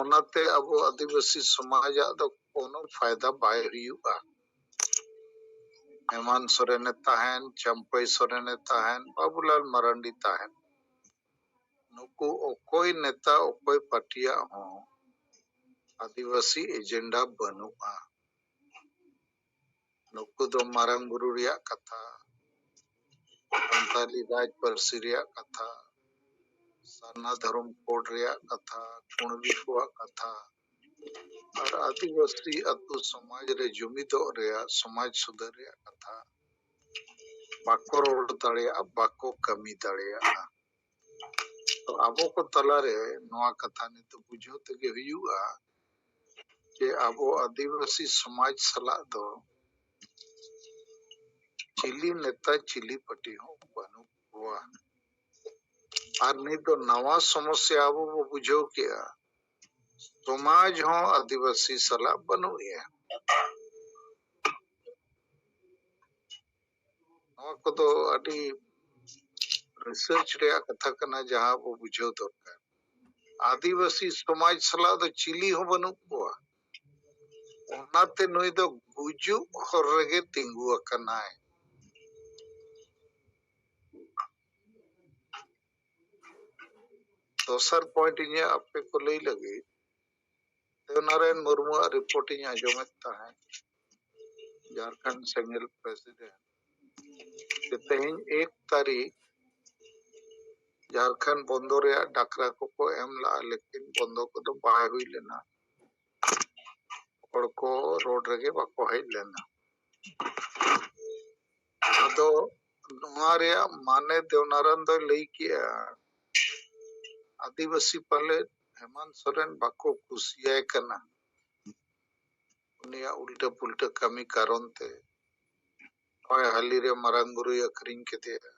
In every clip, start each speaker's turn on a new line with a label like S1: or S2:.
S1: ᱚᱱᱟᱛᱮ ᱟᱵᱚ ᱟᱹᱫᱤᱵᱟᱹᱥᱤ ᱥᱚᱢᱟᱡᱟᱜ ᱫᱚ ᱠᱳᱱᱳ ᱯᱷᱟᱭᱫᱟ ᱵᱟᱭ ᱦᱩᱭᱩᱜᱼᱟ ᱦᱮᱢᱟᱱ ᱥᱚᱨᱮᱱᱮ ᱛᱟᱦᱮᱱ ᱪᱟᱢᱯᱟᱹᱭ ᱥᱚᱨᱮᱱᱮ ᱛᱟᱦᱮᱱ ᱵᱟᱵᱩᱞᱟᱞ ᱢᱟᱨᱟᱱᱰᱤ ᱛᱟᱦᱮᱱ ᱱᱩᱠᱩ ᱚᱠᱚᱭ ᱱᱮᱛᱟ ᱚᱠᱚᱭ ᱯᱟᱨᱴᱤᱭᱟᱜ ᱦᱚᱸ ᱟᱹᱫᱤᱵᱟᱹᱥᱤ ᱮᱡᱮᱱᱰᱟ ᱵᱟᱹᱱᱩᱜᱼᱟ ᱱᱩᱠᱩ ᱫᱚ ᱢᱟᱨᱟᱝ ᱵᱩᱨᱩ ᱨᱮᱭᱟᱜ ᱠᱟᱛᱷᱟ ᱥᱟᱱᱛᱟᱞᱤ ᱨᱟᱡᱽ ᱯᱟᱹᱨᱥᱤ ᱨᱮᱭᱟᱜ ᱠᱟᱛᱷᱟ ᱥᱟᱨᱱᱟ ᱫᱷᱚᱨᱚᱢ ᱠᱳᱰ ᱨᱮᱭᱟᱜ ᱠᱟᱛᱷᱟ ᱠᱩᱬᱵᱤ ᱠᱚᱣᱟᱜ ᱠᱟᱛᱷᱟ ᱟᱨ ᱟᱹᱫᱤᱵᱟᱹᱥᱤ ᱟᱹᱛᱩ ᱥᱚᱢᱟᱡᱽ ᱨᱮ ᱡᱩᱢᱤᱫᱚᱜ ᱨᱮᱭᱟᱜ ᱥᱚᱢᱟᱡᱽ ᱥᱩᱫᱷᱟᱹᱨ ᱨᱮᱭᱟᱜ ᱠᱟᱛᱷᱟ ᱵᱟᱠᱚ ᱨᱚᱲ ᱫᱟᱲᱮᱭᱟᱜᱼᱟ ᱵᱟᱠᱚ ᱠᱟᱹᱢᱤ ᱫᱟᱲᱮᱭᱟᱜᱼᱟ ᱛᱚ ᱟᱵᱚ ᱠᱚ ᱛᱟᱞᱟᱨᱮ ᱱᱚᱣᱟ ᱠᱟᱛᱷᱟ ᱱᱤᱛᱚᱜ ᱵᱩᱡᱷᱟᱹᱣ ᱛᱮᱜᱮ ᱦᱩᱭᱩᱜᱼᱟ ᱡᱮ ᱟᱵᱚ ᱟᱹᱫᱤᱵᱟᱹᱥᱤ ᱥᱚᱢᱟᱡᱽ ᱥᱟᱞᱟᱜ ᱫᱚ ᱪᱤᱞᱤ ᱱᱮᱛᱟ ᱪᱤᱞᱤ ᱯᱟᱴᱤ ᱦᱚᱸ ᱵᱟᱹᱱᱩᱜ ᱠᱚᱣᱟ ᱟᱨ ᱱᱤᱛ ᱫᱚ ᱱᱟᱣᱟ ᱥᱚᱢᱚᱥᱥᱟ ᱟᱵᱚ ᱵᱚ ᱵᱩᱡᱷᱟᱹᱣ ᱠᱮᱜᱼᱟ ᱥᱚᱢᱟᱡᱽ ᱦᱚᱸ ᱟᱹᱫᱤᱵᱟᱹᱥᱤ ᱥᱟᱞᱟᱜ ᱵᱟᱹᱱᱩᱜ ᱮᱭᱟ ᱱᱚᱣᱟ ᱠᱚᱫᱚ ᱟᱹᱰᱤ ᱨᱤᱥᱟᱨᱪ ᱨᱮᱭᱟᱜ ᱠᱟᱛᱷᱟ ᱠᱟᱱᱟ ᱡᱟᱦᱟᱸ ᱟᱵᱚ ᱵᱩᱡᱷᱟᱹᱣ ᱫᱚᱨᱠᱟᱨ ᱟᱹᱫᱤᱵᱟᱹᱥᱤ ᱥᱚᱢᱟᱡᱽ ᱥᱟᱞᱟᱜ ᱫᱚ ᱪᱤᱞᱤ ᱦᱚᱸ ᱵᱟᱹᱱᱩᱜ ᱠᱚᱣᱟ ᱚᱱᱟᱛᱮ ᱱᱩᱭ ᱫᱚ ᱜᱩᱡᱩᱜ ᱦᱚᱨ ᱨᱮᱜᱮ ᱛᱤᱸᱜᱩ ᱟᱠᱟᱱᱟᱭ ᱫᱚᱥᱟᱨ ᱯᱚᱭᱮᱱᱴ ᱤᱧᱟᱹᱜ ᱟᱯᱮ ᱠᱚ ᱞᱟᱹᱭ ᱞᱟᱹᱜᱤᱫ ᱱᱟᱨᱮᱱ ᱢᱩᱨᱢᱩᱣᱟᱜ ᱨᱤᱯᱳᱨᱴ ᱤᱧ ᱟᱸᱡᱚᱢᱮᱫ ᱛᱟᱦᱮᱸᱫ ᱡᱷᱟᱲᱠᱷᱚᱸᱰ ᱥᱮᱸᱜᱮᱞ ᱯᱨᱮᱥᱤᱰᱮᱱᱴ ᱡᱮ ᱛᱮᱦᱮᱧ ᱮᱠ ᱛᱟᱹᱨᱤᱠᱷ ᱡᱷᱟᱲᱠᱷᱚᱸᱰ ᱵᱚᱱᱫᱚ ᱨᱮᱭᱟᱜ ᱰᱟᱠᱨᱟ ᱠᱚᱠᱚ ᱮᱢ ᱞᱟᱜᱼᱟ ᱞᱮᱠᱤᱱ ᱵᱚᱱᱫᱚ ᱠᱚᱫᱚ ᱵᱟᱭ ᱦᱩᱭ ᱞᱮᱱᱟ ᱦᱚᱲ ᱠᱚ ᱨᱳᱰ ᱨᱮᱜᱮ ᱵᱟᱠᱚ ᱦᱮᱡ ᱞᱮᱱᱟ ᱟᱫᱚ ᱱᱚᱣᱟ ᱨᱮᱭᱟᱜ ᱢᱟᱱᱮ ᱫᱮᱣᱱᱟᱨᱟᱱ ᱫᱚᱭ ᱞᱟᱹᱭ ᱠᱮᱜᱼᱟ ᱟᱹᱫᱤᱵᱟᱹᱥᱤ ᱯᱟᱞᱮ ᱦᱮᱢᱟᱱ ᱥᱚᱨᱮᱱ ᱵᱟᱠᱚ ᱠᱩᱥᱤᱭᱟᱭ ᱠᱟᱱᱟ ᱩᱱᱤᱭᱟᱜ ᱩᱞᱴᱟᱹ ᱯᱩᱞᱴᱟᱹ ᱠᱟᱹᱢᱤ ᱠᱟᱨᱚᱱ ᱛᱮ ᱱᱚᱜᱼᱚᱭ ᱦᱟᱹᱞᱤ ᱨᱮ ᱢᱟᱨᱟᱝ ᱵᱩᱨᱩᱭ ᱟᱹᱠᱷᱨᱤᱧ ᱠᱮᱫᱮᱭᱟ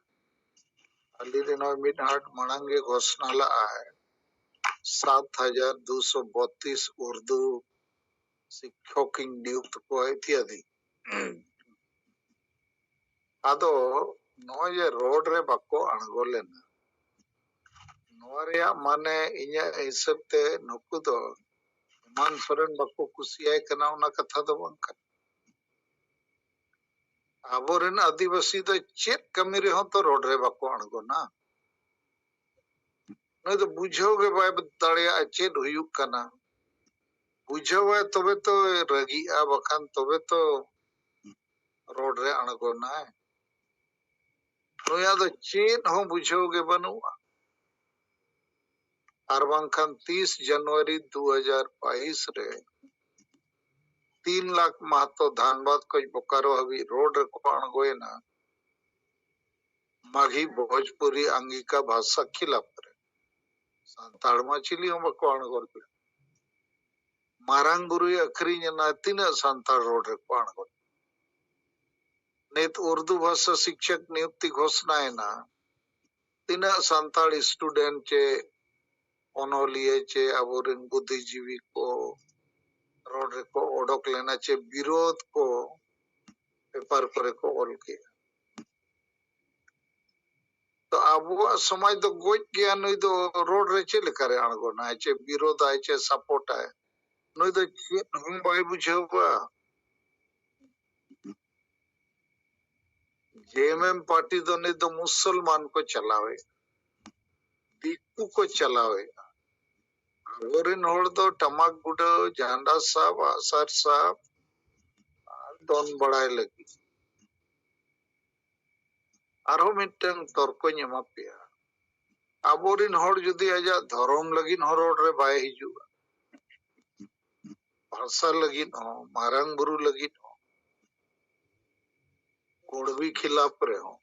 S1: ᱦᱟᱹᱞᱤ ᱨᱮ ᱱᱚᱜᱼᱚᱭ ᱢᱤᱫ ᱦᱟᱴ ᱢᱟᱲᱟᱝ ᱜᱮ ᱜᱷᱳᱥᱱᱟ ᱞᱟᱜᱼᱟᱭ ᱥᱟᱛ ᱦᱟᱡᱟᱨ ᱫᱩᱥᱚ ᱵᱚᱛᱛᱤᱥ ᱩᱨᱫᱩ ᱥᱤᱠᱠᱷᱚᱠᱤᱧ ᱱᱤᱭᱩᱠᱛ ᱠᱚᱣᱟ ᱤᱛᱭᱟᱫᱤ ᱟᱫᱚ ᱱᱚᱜᱼᱚᱭ ᱡᱮ ᱨᱳᱰ ᱨᱮ ᱵᱟᱠᱚ ᱟᱬᱜᱚ ᱞᱮᱱᱟ ᱱᱚᱣᱟ ᱨᱮᱭᱟᱜ ᱢᱟᱱᱮ ᱤᱧᱟᱹᱜ ᱦᱤᱥᱟᱹᱵ ᱛᱮ ᱱᱩᱠᱩ ᱫᱚ ᱦᱮᱢᱟᱱ ᱥᱚᱨᱮᱱ ᱵᱟᱠᱚ ᱠᱩᱥᱤᱭᱟᱭ ᱠᱟᱱᱟ ᱚᱱᱟ ᱠᱟᱛᱷᱟ ᱫᱚ ᱵᱟᱝ ᱠᱟᱱᱟ ᱟᱵᱚᱨᱮᱱ ᱟᱹᱫᱤᱵᱟᱹᱥᱤ ᱫᱚ ᱪᱮᱫ ᱠᱟᱹᱢᱤ ᱨᱮᱦᱚᱸ ᱛᱚ ᱨᱳᱰ ᱨᱮ ᱵᱟᱠᱚ ᱟᱬᱜᱚᱱᱟ ᱱᱩᱭ ᱫᱚ ᱵᱩᱡᱷᱟᱹᱣ ᱜᱮ ᱵᱟᱭ ᱫᱟᱲᱮᱭᱟᱜᱼᱟ ᱪᱮᱫ ᱦᱩᱭᱩᱜ ᱠᱟᱱᱟ ᱵᱩᱡᱷᱟᱹᱣᱟᱭ ᱛᱚᱵᱮ ᱛᱚ ᱨᱟᱹᱜᱤᱜᱼᱟ ᱵᱟᱠᱷᱟᱱ ᱛᱚᱵᱮ ᱛᱚ ᱨᱚᱲ ᱨᱮ ᱟᱬᱜᱚᱱᱟᱭ ᱱᱩᱭᱟᱜ ᱫᱚ ᱪᱮᱫ ᱦᱚᱸ ᱵᱩᱡᱷᱟᱹᱣ ᱜᱮ ᱵᱟᱹᱱᱩᱜᱼᱟ ᱟᱨ ᱵᱟᱝᱠᱷᱟᱱ ᱛᱤᱥ ᱡᱟᱱᱩᱣᱟᱨᱤ ᱫᱩ ᱦᱟᱡᱟᱨ ᱵᱟᱭᱤᱥ ᱨᱮ ᱛᱤᱱ ᱞᱟᱠᱷ ᱢᱟᱦᱛᱚ ᱫᱷᱟᱱᱵᱟᱫᱽ ᱠᱷᱚᱱ ᱵᱳᱠᱟᱨᱳ ᱦᱟᱹᱵᱤᱡ ᱨᱳᱰ ᱨᱮᱠᱚ ᱟᱬᱜᱚᱭᱮᱱᱟ ᱢᱟᱜᱷᱤ ᱵᱷᱳᱡᱽᱯᱩᱨᱤ ᱟᱝᱜᱤᱠᱟ ᱵᱷᱟᱥᱟ ᱠᱷᱤᱞᱟᱯ ᱥᱟᱱᱛᱟᱲ ᱢᱟ ᱪᱤᱞᱤ ᱦᱚᱸ ᱵᱟᱠᱚ ᱟᱬᱜᱚ ᱞᱮᱫᱟ ᱢᱟᱨᱟᱝ ᱵᱩᱨᱩᱭ ᱟᱹᱠᱷᱨᱤᱧ ᱮᱱᱟ ᱛᱤᱱᱟᱹᱜ ᱥᱟᱱᱛᱟᱲ ᱨᱳᱰ ᱨᱮᱠᱚ ᱟᱬᱜᱚ ᱱᱤᱛ ᱩᱨᱫᱩ ᱵᱷᱟᱥᱟ ᱥᱤᱠᱪᱚᱠ ᱱᱤᱭᱩᱠᱛᱤ ᱜᱷᱳᱥᱱᱟ ᱮᱱᱟ ᱛᱤᱱᱟᱹᱜ ᱥᱟᱱᱛᱟᱲ ᱥᱴᱩᱰᱮᱱᱴ ᱪᱮ ᱚᱱᱚᱞᱤᱭᱟᱹ ᱪᱮ ᱟᱵᱚᱨᱮᱱ ᱵᱩᱫᱽᱫᱷᱤᱡᱤᱵᱤ ᱠᱚ ᱨᱳᱰ ᱨᱮᱠᱚ ᱚᱰᱚᱠ ᱞᱮᱱᱟ ᱪᱮ ᱵᱤᱨᱳᱫᱷ ᱠᱚ ᱯᱮᱯᱟᱨ ᱠᱚᱨᱮ ᱠᱚ ᱚᱞ ᱠᱮᱜᱼᱟ ᱛᱚ ᱟᱵᱚᱣᱟᱜ ᱥᱚᱢᱟᱡᱽ ᱫᱚ ᱜᱚᱡ ᱜᱮᱭᱟ ᱱᱩᱭ ᱫᱚ ᱨᱚᱲ ᱨᱮ ᱪᱮᱫ ᱞᱮᱠᱟᱨᱮ ᱟᱬᱜᱚᱱᱟᱭ ᱪᱮᱫ ᱵᱤᱨᱳᱫᱟᱭ ᱪᱮᱫ ᱥᱟᱯᱳᱨᱴᱟᱭ ᱱᱩᱭ ᱫᱚ ᱪᱮᱫ ᱦᱚᱸ ᱵᱟᱭ ᱵᱩᱡᱷᱟᱹᱣᱟ ᱡᱮᱢᱮᱢ ᱯᱟᱨᱴᱤ ᱫᱚ ᱱᱤᱛ ᱫᱚ ᱢᱩᱥᱚᱞᱢᱟᱱ ᱠᱚ ᱪᱟᱞᱟᱣᱮᱫ ᱫᱤᱠᱩ ᱠᱚ ᱪᱟᱞᱟᱣᱮᱫ ᱟᱵᱚᱨᱮᱱ ᱦᱚᱲ ᱫᱚ ᱴᱟᱢᱟᱠ ᱜᱩᱰᱟᱹᱣ ᱡᱷᱟᱱᱰᱟ ᱥᱟᱵ ᱟᱜᱼᱥᱟᱨ ᱥᱟᱵ ᱟᱨ ᱫᱚᱱ ᱵᱟᱲᱟᱭ ᱞᱟᱹᱜᱤᱫ ᱟᱨᱦᱚᱸ ᱢᱤᱫᱴᱟᱝ ᱛᱚᱨᱠᱚᱧ ᱮᱢᱟ ᱯᱮᱭᱟ ᱟᱵᱚᱨᱤᱱ ᱦᱚᱲ ᱡᱩᱫᱤ ᱟᱡᱟᱜ ᱫᱷᱚᱨᱚᱢ ᱞᱟᱹᱜᱤᱫ ᱦᱚᱸ ᱨᱚᱲ ᱨᱮ ᱵᱟᱭ ᱦᱤᱡᱩᱜᱼᱟ ᱵᱷᱟᱥᱟ ᱞᱟᱹᱜᱤᱫ ᱦᱚᱸ ᱢᱟᱨᱟᱝ ᱵᱩᱨᱩ ᱞᱟᱹᱜᱤᱫ ᱦᱚᱸ ᱜᱚᱲᱵᱤ ᱠᱷᱤᱞᱟᱯ ᱨᱮᱦᱚᱸ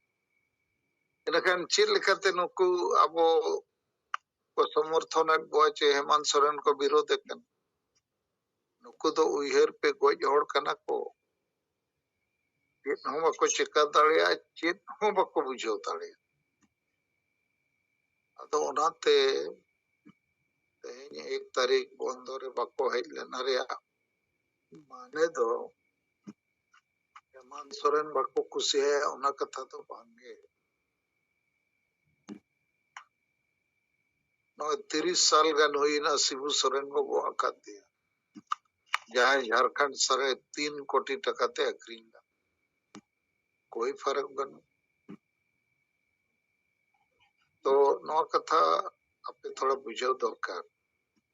S1: ᱮᱱᱠᱷᱟᱱ ᱪᱮᱫ ᱞᱮᱠᱟᱛᱮ ᱱᱩᱠᱩ ᱟᱵᱚ ᱠᱚ ᱥᱚᱢᱚᱨᱛᱷᱚᱱᱮᱫ ᱠᱚᱣᱟ ᱪᱮ ᱦᱮᱢᱟᱱᱛ ᱥᱚᱨᱮᱱ ᱠᱚ ᱵᱤᱨᱳᱫᱮ ᱠᱟᱱᱟ ᱱᱩᱠᱩ ᱫᱚ ᱩᱭᱦᱟᱹᱨ ᱯᱮ ᱜᱚᱡ ᱦᱚᱲ ᱠᱟᱱᱟ ᱠᱚ ᱪᱮᱫ ᱦᱚᱸ ᱵᱟᱠᱚ ᱪᱮᱠᱟ ᱫᱟᱲᱮᱭᱟᱜᱼᱟ ᱪᱮᱫ ᱦᱚᱸ ᱵᱟᱠᱚ ᱵᱩᱡᱷᱟᱹᱣ ᱫᱟᱲᱮᱭᱟᱜᱼᱟ ᱟᱫᱚ ᱚᱱᱟᱛᱮ ᱛᱮᱦᱮᱧ ᱮᱠ ᱛᱟᱹᱨᱤᱠᱷ ᱵᱚᱱᱫᱚ ᱨᱮ ᱵᱟᱠᱚ ᱦᱮᱡ ᱞᱮᱱᱟ ᱨᱮᱭᱟᱜ ᱢᱟᱱᱮ ᱫᱚ ᱦᱮᱢᱟᱱᱛ ᱥᱚᱨᱮᱱ ᱵᱟᱠᱚ ᱠᱩᱥᱤᱭᱟᱭᱟ ᱚᱱᱟ ᱠᱟᱛᱷᱟ ᱫᱚ ᱵᱟᱝᱜᱮ ᱱᱚᱜᱼᱚᱭ ᱛᱤᱨᱤᱥ ᱥᱟᱞ ᱜᱟᱱ ᱦᱩᱭᱱᱟ ᱥᱤᱵᱩ ᱥᱚᱨᱮᱱ ᱠᱚ ᱜᱚᱜ ᱟᱠᱟᱫᱮᱭᱟ ᱡᱟᱦᱟᱸᱭ ᱡᱷᱟᱲᱠᱷᱚᱸᱰ ᱥᱟᱨᱮ ᱛᱤᱱ ᱠᱳᱴᱤ ᱴᱟᱠᱟ ᱛᱮ ᱟᱹᱠᱷᱨᱤᱧ ᱞᱮᱫ ᱠᱳᱭ ᱯᱷᱟᱨᱟᱠ ᱵᱟᱹᱱᱩᱜ ᱛᱚ ᱱᱚᱣᱟ ᱠᱟᱛᱷᱟ ᱟᱯᱮ ᱛᱷᱚᱲᱟ ᱵᱩᱡᱷᱟᱹᱣ ᱫᱚᱨᱠᱟᱨ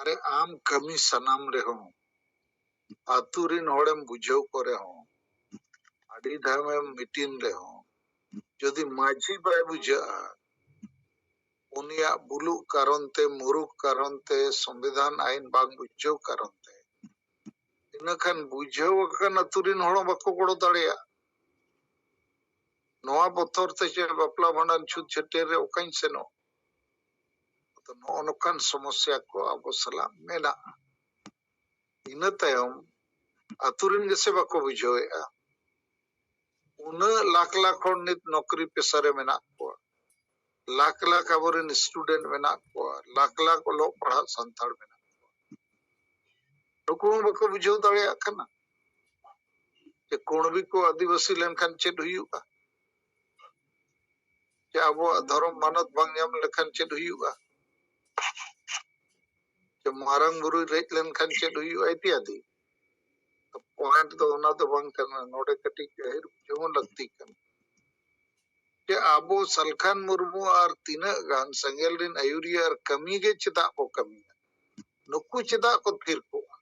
S1: ᱟᱨᱮ ᱟᱢ ᱠᱟᱹᱢᱤ ᱥᱟᱱᱟᱢ ᱨᱮᱦᱚᱸ ᱟᱹᱛᱩ ᱨᱤᱱ ᱦᱚᱲᱮᱢ ᱵᱩᱡᱷᱟᱹᱣ ᱠᱚ ᱨᱮᱦᱚᱸ ᱟᱹᱰᱤ ᱫᱷᱟᱣᱮᱢ ᱢᱤᱴᱤᱱ ᱨᱮᱦᱚᱸ ᱡᱩᱫᱤ ᱢᱟᱹᱡᱷᱤ ᱵᱟᱭ ᱵᱩᱡᱷᱟᱹᱜᱼᱟ ᱩᱱᱤᱭᱟᱜ ᱵᱩᱞᱩᱜ ᱠᱟᱨᱚᱱ ᱛᱮ ᱢᱩᱨᱩᱠ ᱠᱟᱨᱚᱱ ᱛᱮ ᱥᱚᱝᱵᱤᱫᱷᱟᱱ ᱟᱭᱤᱱ ᱵᱟᱝ ᱵᱩᱡᱷᱟᱹᱣ ᱠᱟᱨᱚᱱ ᱛᱮ ᱤᱱᱟᱹ ᱠᱷᱟᱱ ᱵᱩᱡᱷᱟᱹᱣ ᱟᱠᱟᱱ ᱟᱹᱛᱩ ᱨᱤᱱ ᱦᱚᱲ ᱵᱟᱠᱚ ᱜᱚᱲᱚ ᱫᱟᱲᱮᱭᱟᱜᱼᱟ ᱱᱚᱣᱟ ᱵᱚᱛᱚᱨ ᱛᱮ ᱪᱮᱫ ᱵᱟᱯᱞᱟ ᱵᱷᱟᱸᱰᱟᱱ ᱪᱷᱩᱛ ᱪᱷᱟᱹᱴᱭᱟᱹᱨ ᱨᱮ ᱚᱠᱟᱧ ᱥᱮᱱᱚᱜ ᱟᱫᱚ ᱱᱚᱜᱼᱚ ᱱᱚᱝᱠᱟᱱ ᱥᱚᱢᱚᱥᱥᱟ ᱠᱚ ᱟᱵᱚ ᱥᱟᱞᱟᱜ ᱢᱮᱱᱟᱜᱼᱟ ᱤᱱᱟᱹ ᱛᱟᱭᱚᱢ ᱟᱛᱳ ᱨᱮᱱ ᱜᱮᱥᱮ ᱵᱟᱠᱚ ᱵᱩᱡᱷᱟᱹᱣᱮᱫᱼᱟ ᱩᱱᱟᱹᱜ ᱞᱟᱠᱷ ᱞᱟᱠᱷ ᱦᱚᱲ ᱱᱤᱛ ᱱᱚᱠᱨᱤ ᱯᱮᱥᱟ ᱨᱮ ᱢᱮᱱᱟᱜ ᱠᱚᱣᱟ ᱞᱟᱠᱷ ᱞᱟᱠᱷ ᱟᱵᱚᱨᱮᱱ ᱥᱴᱩᱰᱮᱱᱴ ᱢᱮᱱᱟᱜ ᱠᱚᱣᱟ ᱞᱟᱠᱷ ᱞᱟᱠᱷ ᱚᱞᱚᱜ ᱯᱟᱲᱦᱟᱜ ᱥᱟᱱᱛᱟᱲ ᱢᱮᱱᱟᱜ ᱠᱚᱣᱟ ᱱᱩᱠᱩ ᱦᱚᱸ ᱵᱟᱠᱚ ᱵᱩᱡᱷᱟᱹᱣ ᱫᱟᱲᱮᱭᱟᱜ ᱠᱟᱱᱟ ᱡᱮ ᱠᱩᱬᱵᱤ ᱠᱚ ᱟᱹᱫᱤᱵᱟᱹᱥᱤ ᱞᱮᱱᱠᱷᱟᱱ ᱪᱮᱫ ᱦᱩᱭᱩᱜᱼᱟ ᱡᱮ ᱟᱵᱚᱣᱟᱜ ᱫᱷᱚᱨᱚᱢ ᱢᱟᱱᱚᱛ ᱵᱟᱝ ᱧᱟᱢ ᱞᱮᱠᱷᱟᱱ ᱪᱮᱫ ᱦᱩᱭᱩᱜᱼᱟ ᱡᱮ ᱢᱟᱨᱟᱝ ᱵᱩᱨᱩᱭ ᱨᱮᱡ ᱞᱮᱱᱠᱷᱟᱱ ᱪᱮᱫ ᱦᱩᱭᱩᱜᱼᱟ ᱤᱛᱤᱭᱟᱫᱤ ᱯᱚᱭᱮᱱᱴ ᱫᱚ ᱚᱱᱟ ᱫᱚ ᱵᱟᱝ ᱠᱟᱱᱟ ᱱᱚᱰᱮ ᱠᱟᱹᱴᱤᱡ ᱜᱟᱹᱦᱤᱨ ᱵᱩᱡᱷᱟᱹᱣ ᱦᱚᱸ ᱞᱟᱹᱠᱛᱤ ᱠᱟᱱᱟ ᱡᱮ ᱟᱵᱚ ᱥᱟᱞᱠᱷᱟᱱ ᱢᱩᱨᱢᱩ ᱟᱨ ᱛᱤᱱᱟᱹᱜ ᱜᱟᱱ ᱥᱮᱸᱜᱮᱞ ᱨᱤᱱ ᱟᱹᱭᱩᱨᱤᱭᱟᱹ ᱟᱨ ᱠᱟᱹᱢᱤ ᱜᱮ ᱪᱮᱫᱟᱜ ᱠᱚ ᱠᱟᱹᱢᱤᱭᱟ ᱱᱩᱠᱩ ᱪᱮᱫᱟᱜ ᱠᱚ ᱛᱷᱤᱨ ᱠᱚᱜᱼᱟ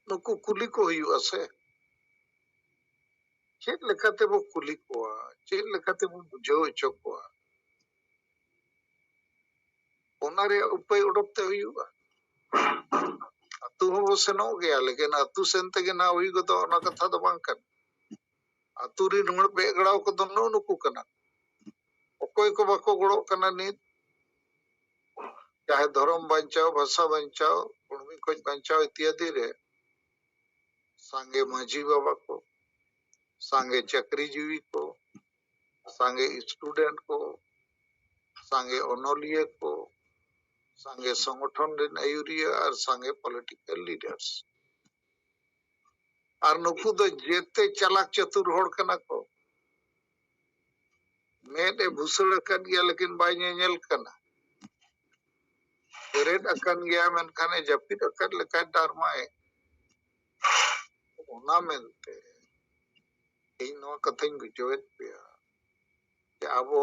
S1: ᱱᱩᱠᱩ ᱠᱩᱞᱤ ᱠᱚ ᱦᱩᱭᱩᱜᱼᱟ ᱥᱮ ᱪᱮᱫ ᱞᱮᱠᱟ ᱛᱮᱵᱚ ᱠᱩᱞᱤ ᱠᱚᱣᱟ ᱪᱮᱫ ᱞᱮᱠᱟ ᱛᱮᱵᱚ ᱵᱩᱡᱷᱟᱹᱣ ᱦᱚᱪᱚ ᱠᱚᱣᱟ ᱚᱱᱟ ᱨᱮᱭᱟᱜ ᱩᱯᱟᱹᱭ ᱚᱰᱚᱠ ᱛᱮ ᱦᱩᱭᱩᱜᱼᱟ ᱟᱹᱛᱩ ᱦᱚᱸᱵᱚ ᱥᱮᱱᱚᱜ ᱜᱮᱭᱟ ᱞᱮᱠᱤᱱ ᱟᱹᱛᱩ ᱥᱮᱱ ᱛᱮᱜᱮ ᱱᱟᱦᱟᱜ ᱦᱩᱭ ᱜᱚᱫᱚᱜ ᱚᱱᱟ ᱠᱟᱛᱷᱟ ᱫᱚ ᱵᱟᱝ ᱠᱟᱱᱟ ᱟᱛᱳ ᱨᱤᱱ ᱦᱚᱲ ᱵᱮᱜ ᱜᱟᱲᱟᱣ ᱠᱚᱫᱚ ᱱᱩᱜ ᱱᱩᱠᱩ ᱠᱟᱱᱟ ᱚᱠᱚᱭ ᱠᱚ ᱵᱟᱠᱚ ᱜᱚᱲᱚᱜ ᱠᱟᱱᱟ ᱱᱤᱛ ᱪᱟᱦᱮ ᱫᱷᱚᱨᱚᱢ ᱵᱟᱧᱪᱟᱣ ᱵᱷᱟᱥᱟ ᱵᱟᱧᱪᱟᱣ ᱠᱚᱲᱢᱤ ᱠᱷᱚᱡ ᱵᱟᱧᱪᱟᱣ ᱤᱛᱭᱟᱫᱤ ᱨᱮ ᱥᱟᱸᱜᱮ ᱢᱟᱹᱡᱷᱤ ᱵᱟᱵᱟ ᱠᱚ ᱥᱟᱸᱜᱮ ᱪᱟᱹᱠᱨᱤ ᱡᱤᱣᱤ ᱠᱚ ᱥᱟᱸᱜᱮ ᱥᱴᱩᱰᱮᱱᱴ ᱠᱚ ᱥᱟᱸᱜᱮ ᱚᱱᱚᱞᱤᱭᱟᱹ ᱠᱚ ᱥᱟᱸᱜᱮ ᱥᱚᱝᱜᱚᱴᱷᱚᱱ ᱨᱮᱱ ᱟᱹᱭᱩᱨᱤᱭᱟᱹ ᱟᱨ ᱥᱟᱸᱜᱮ ᱯᱚᱞᱤᱴᱤᱠᱟᱞ ᱞᱤᱰᱟᱨᱥ ᱟᱨ ᱱᱩᱠᱩ ᱫᱚ ᱡᱮᱛᱮ ᱪᱟᱞᱟᱠ ᱪᱟᱛᱩᱨ ᱦᱚᱲ ᱠᱟᱱᱟ ᱠᱚ ᱢᱮᱫ ᱮ ᱵᱷᱩᱥᱟᱹᱲ ᱟᱠᱟᱫ ᱜᱮᱭᱟ ᱞᱮᱠᱤᱱ ᱵᱟᱭ ᱧᱮᱧᱮᱞ ᱠᱟᱱᱟ ᱵᱮᱨᱮᱫ ᱟᱠᱟᱱ ᱜᱮᱭᱟ ᱢᱮᱱᱠᱷᱟᱱ ᱮ ᱡᱟᱹᱯᱤᱫ ᱟᱠᱟᱫ ᱞᱮᱠᱟᱭ ᱰᱟᱨᱢᱟᱭᱮᱫ ᱚᱱᱟ ᱢᱮᱱᱛᱮ ᱤᱧ ᱱᱚᱣᱟ ᱠᱟᱛᱷᱟᱧ ᱵᱩᱡᱷᱟᱹᱣᱮᱫ ᱯᱮᱭᱟ ᱡᱮ ᱟᱵᱚ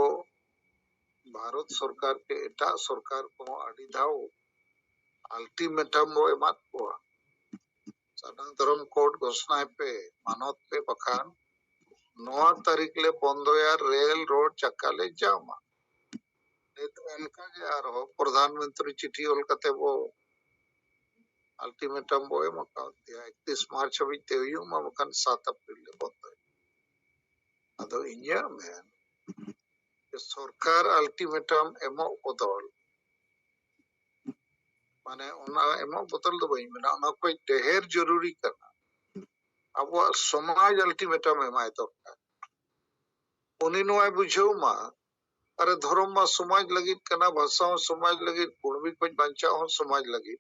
S1: ᱵᱷᱟᱨᱚᱛ ᱥᱚᱨᱠᱟᱨ ᱥᱮ ᱮᱴᱟᱜ ᱥᱚᱨᱠᱟᱨ ᱠᱚᱦᱚᱸ ᱟᱹᱰᱤ ᱫᱷᱟᱣ ᱟᱞᱴᱤᱢᱮᱴᱟᱢ ᱵᱚ ᱮᱢᱟᱫ ᱠᱚᱣᱟ ᱥᱟᱱᱟᱢ ᱫᱷᱚᱨᱚᱢ ᱠᱳᱰ ᱜᱷᱳᱥᱱᱟᱭ ᱯᱮ ᱢᱟᱱᱚᱛ ᱯᱮ ᱵᱟᱠᱷᱟᱱ ᱱᱚᱣᱟ ᱛᱟᱹᱨᱤᱠᱷ ᱞᱮ ᱵᱚᱱᱫᱚᱭᱟ ᱨᱮᱞ ᱨᱳᱰ ᱪᱟᱠᱟ ᱞᱮ ᱡᱟᱢᱟ ᱱᱤᱛ ᱚᱱᱠᱟ ᱜᱮ ᱟᱨᱦᱚᱸ ᱯᱨᱚᱫᱷᱟᱱ ᱢᱚᱱᱛᱨᱤ ᱪᱤᱴᱷᱤ ᱚᱞ ᱠᱟᱛᱮ ᱵᱚ ᱟᱞᱴᱤᱢᱮᱴᱟᱢ ᱵᱚ ᱮᱢ ᱟᱠᱟᱫᱮᱭᱟ ᱮᱠᱛᱤᱥ ᱢᱟᱨᱪ ᱦᱟᱹᱵᱤᱡ ᱛᱮ ᱦᱩᱭᱩᱜ ᱢᱟ ᱵᱟᱠᱷᱟᱱ ᱥᱟᱛ ᱟᱯᱨᱤᱞ ᱞᱮ ᱵᱚᱱᱫᱚᱭᱟ ᱟᱫᱚ ᱤᱧᱟᱹᱜ ᱢᱮᱱ ᱥᱚᱨᱠᱟᱨ ᱟᱞᱴᱤᱢᱮᱴᱟᱢ ᱮᱢᱚᱜ ᱵᱚᱫᱚᱞ ᱢᱟᱱᱮ ᱚᱱᱟ ᱮᱢᱚᱜ ᱵᱚᱫᱚᱞ ᱫᱚ ᱵᱟᱹᱧ ᱢᱮᱱᱟ ᱚᱱᱟ ᱠᱷᱚᱡ ᱰᱮᱦᱮᱨ ᱡᱚᱨᱩᱨᱤ ᱠᱟᱱᱟ ᱟᱵᱚᱣᱟᱜ ᱥᱚᱢᱟᱡᱽ ᱟᱞᱴᱤᱢᱮᱴᱟᱢ ᱮᱢᱟᱭ ᱫᱚᱨᱠᱟᱨ ᱩᱱᱤ ᱱᱚᱣᱟᱭ ᱵᱩᱡᱷᱟᱹᱣ ᱢᱟ ᱟᱨᱮ ᱫᱷᱚᱨᱚᱢ ᱢᱟ ᱥᱚᱢᱟᱡᱽ ᱞᱟᱹᱜᱤᱫ ᱠᱟᱱᱟ ᱵᱷᱟᱥᱟ ᱦᱚᱸ ᱥᱚᱢᱟᱡᱽ ᱞᱟᱹᱜᱤᱫ ᱠᱩᱲᱢᱤ ᱠᱷᱚᱡ ᱵᱟᱧᱪᱟᱣ ᱦᱚᱸ ᱥᱚᱢᱟᱡᱽ ᱞᱟᱹᱜᱤᱫ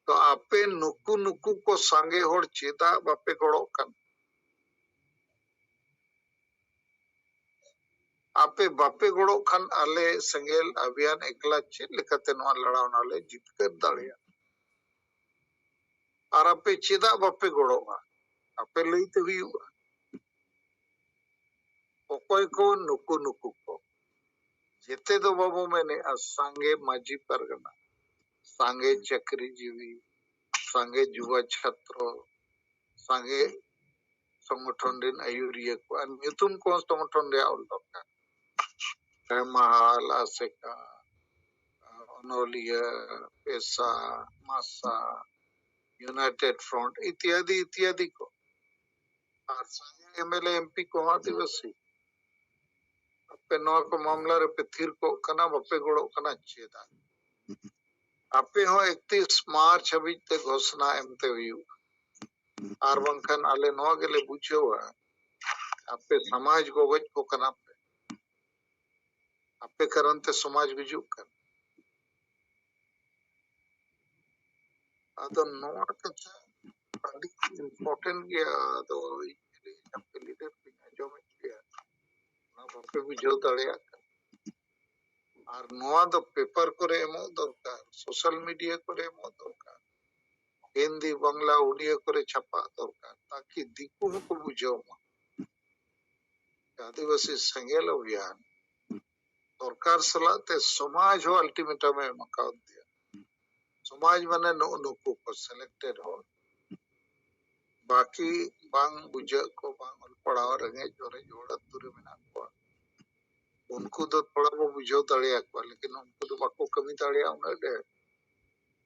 S1: ᱛᱚ ᱟᱯᱮ ᱱᱩᱠᱩ ᱱᱩᱠᱩ ᱠᱚ ᱥᱟᱸᱜᱮ ᱦᱚᱲ ᱪᱮᱫᱟᱜ ᱵᱟᱯᱮ ᱜᱚᱲᱚᱜ ᱠᱟᱱᱟ ᱟᱯᱮ ᱵᱟᱯᱮ ᱜᱚᱲᱚᱜ ᱠᱷᱟᱱ ᱟᱞᱮ ᱥᱮᱸᱜᱮᱞ ᱟᱵᱷᱤᱭᱟᱱ ᱮᱠᱞᱟ ᱪᱮᱫ ᱞᱮᱠᱟᱛᱮ ᱱᱚᱣᱟ ᱞᱟᱲᱟᱣᱱᱟ ᱞᱮ ᱡᱤᱛᱠᱟᱹᱨ ᱫᱟᱲᱮᱭᱟᱜᱼᱟ ᱟᱨ ᱟᱯᱮ ᱪᱮᱫᱟᱜ ᱵᱟᱯᱮ ᱜᱚᱲᱚᱜᱼᱟ ᱟᱯᱮ ᱞᱟᱹᱭᱛᱮ ᱦᱩᱭᱩᱜᱼᱟ ᱚᱠᱚᱭ ᱠᱚ ᱱᱩᱠᱩ ᱱᱩᱠᱩ ᱠᱚ ᱡᱮᱛᱮ ᱫᱚ ᱵᱟᱵᱚ ᱢᱮᱱᱮᱜᱼᱟ ᱥᱟᱸᱜᱮ ᱢᱟᱹᱡᱷᱤ ᱯᱟᱨᱜᱟᱱᱟ ᱥᱟᱸᱜᱮ ᱪᱟᱹᱠᱨᱤᱡᱤᱵᱤ ᱥᱟᱸᱜᱮ ᱡᱩᱵᱟ ᱪᱷᱟᱛᱨᱚ ᱥᱟᱸᱜᱮ ᱥᱚᱝᱜᱚᱴᱷᱚᱱ ᱨᱮᱱ ᱟᱹᱭᱩᱨᱤᱭᱟᱹ ᱠᱚᱣᱟᱜ ᱧᱩᱛᱩᱢ ᱠᱚ ᱥᱚᱝᱜᱚᱴᱷᱚᱱ ᱨᱮᱭᱟᱜ ᱚᱞ ᱫᱚᱨᱠᱟᱨ ᱦᱮᱢᱟᱞ ᱟᱥᱮᱠᱟ ᱚᱱᱚᱞᱤᱭᱟᱹ ᱯᱮᱥᱟ ᱢᱟᱥᱟ ᱭᱩᱱᱟᱭᱴᱮᱰ ᱯᱷᱨᱚᱱᱴ ᱤᱛᱭᱟᱫᱤ ᱤᱛᱭᱟᱫᱤ ᱠᱚ ᱟᱨ ᱥᱟᱸᱜᱮ ᱮᱢᱮᱞᱮ ᱮᱢᱯᱤ ᱠᱚᱦᱚᱸ ᱟᱹᱫᱤᱵᱟᱹᱥᱤ ᱟᱯᱮ ᱱᱚᱣᱟ ᱠᱚ ᱢᱟᱢᱞᱟ ᱨᱮᱯᱮ ᱛᱷᱤᱨ ᱠᱚᱜ ᱠᱟᱱᱟ ᱵᱟᱯᱮ ᱜᱚᱲᱚᱜ ᱠᱟᱱᱟ ᱪᱮᱫᱟᱜ ᱟᱯᱮ ᱦᱚᱸ ᱮᱠᱛᱤᱥ ᱢᱟᱨᱪ ᱦᱟᱹᱵᱤᱡ ᱛᱮ ᱜᱷᱳᱥᱱᱟ ᱮᱢᱛᱮ ᱦᱩᱭᱩᱜᱼᱟ ᱟᱨ ᱵᱟᱝᱠᱷᱟᱱ ᱟᱞᱮ ᱱᱚᱣᱟ ᱜᱮᱞᱮ ᱵᱩᱡᱷᱟᱹᱣᱟ ᱟᱯᱮ ᱥᱚᱢᱟᱡᱽ ᱜᱚᱜᱚᱡ ᱠᱚ ᱠᱟᱱᱟ ᱯᱮ ᱟᱯᱮ ᱠᱟᱨᱚᱱ ᱛᱮ ᱥᱚᱢᱟᱡᱽ ᱜᱩᱡᱩᱜ ᱠᱟᱱᱟ ᱟᱫᱚ ᱱᱚᱣᱟ ᱠᱟᱛᱷᱟ ᱟᱹᱰᱤ ᱤᱢᱯᱚᱨᱴᱮᱱᱴ ᱜᱮᱭᱟ ᱟᱫᱚ ᱟᱯᱮ ᱞᱤᱰᱟᱨ ᱯᱮ ᱟᱸᱡᱚᱢᱮᱫ ᱜᱮᱭᱟ ᱚᱱᱟ ᱵᱟᱯᱮ ᱵᱩᱡᱷᱟᱹᱣ ᱫᱟᱲᱮᱭᱟᱜ ᱠᱟᱱᱟ ᱟᱨ ᱱᱚᱣᱟ ᱫᱚ ᱯᱮᱯᱟᱨ ᱠᱚᱨᱮ ᱮᱢᱚᱜ ᱫᱚᱨᱠᱟᱨ ᱥᱳᱥᱟᱞ ᱢᱤᱰᱤᱭᱟ ᱠᱚᱨᱮ ᱮᱢᱚᱜ ᱫᱚᱨᱠᱟᱨ ᱦᱤᱱᱫᱤ ᱵᱟᱝᱞᱟ ᱩᱰᱤᱭᱟᱹ ᱠᱚᱨᱮ ᱪᱷᱟᱯᱟᱜ ᱫᱚᱨᱠᱟᱨ ᱛᱟᱠᱤ ᱫᱤᱠᱩ ᱦᱚᱸᱠᱚ ᱵᱩᱡᱷᱟᱹᱣ ᱢᱟ ᱟᱹᱫᱤᱵᱟᱹᱥᱤ ᱥᱮᱸᱜᱮᱞ ᱚᱵᱷᱤᱭᱟᱱ ᱥᱚᱨᱠᱟᱨ ᱥᱟᱞᱟᱜ ᱛᱮ ᱥᱚᱢᱟᱡᱽ ᱦᱚᱸ ᱟᱞᱴᱤᱢᱮᱴᱟᱢ ᱮ ᱮᱢ ᱟᱠᱟᱣᱫ ᱫᱮᱭᱟ ᱥᱚᱢᱟᱡᱽ ᱢᱟᱱᱮ ᱱᱩᱜ ᱱᱩᱠᱩ ᱠᱚ ᱥᱤᱞᱮᱠᱴᱮᱰ ᱦᱚᱲ ᱵᱟᱹᱠᱤ ᱵᱟᱝ ᱵᱩᱡᱷᱟᱹᱜ ᱠᱚ ᱵᱟᱝ ᱚᱞ ᱯᱟᱲᱦᱟᱣ ᱨᱮᱸᱜᱮᱡ ᱚᱨᱮᱡ ᱦᱚᱲ ᱟᱹᱛᱩ ᱨᱮ ᱢᱮᱱᱟᱜ ᱠᱚᱣᱟ ᱩᱱᱠᱩ ᱫᱚ ᱛᱷᱚᱲᱟ ᱵᱚ ᱵᱩᱡᱷᱟᱹᱣ ᱫᱟᱲᱮᱭᱟᱠᱚᱣᱟ ᱞᱮᱠᱤᱱ ᱩᱱᱠᱩ ᱫᱚ ᱵᱟᱠᱚ ᱠᱟᱹᱢᱤ ᱫᱟᱲᱮᱭᱟᱜᱼᱟ ᱩᱱᱟᱹᱜ ᱰᱷᱮᱨ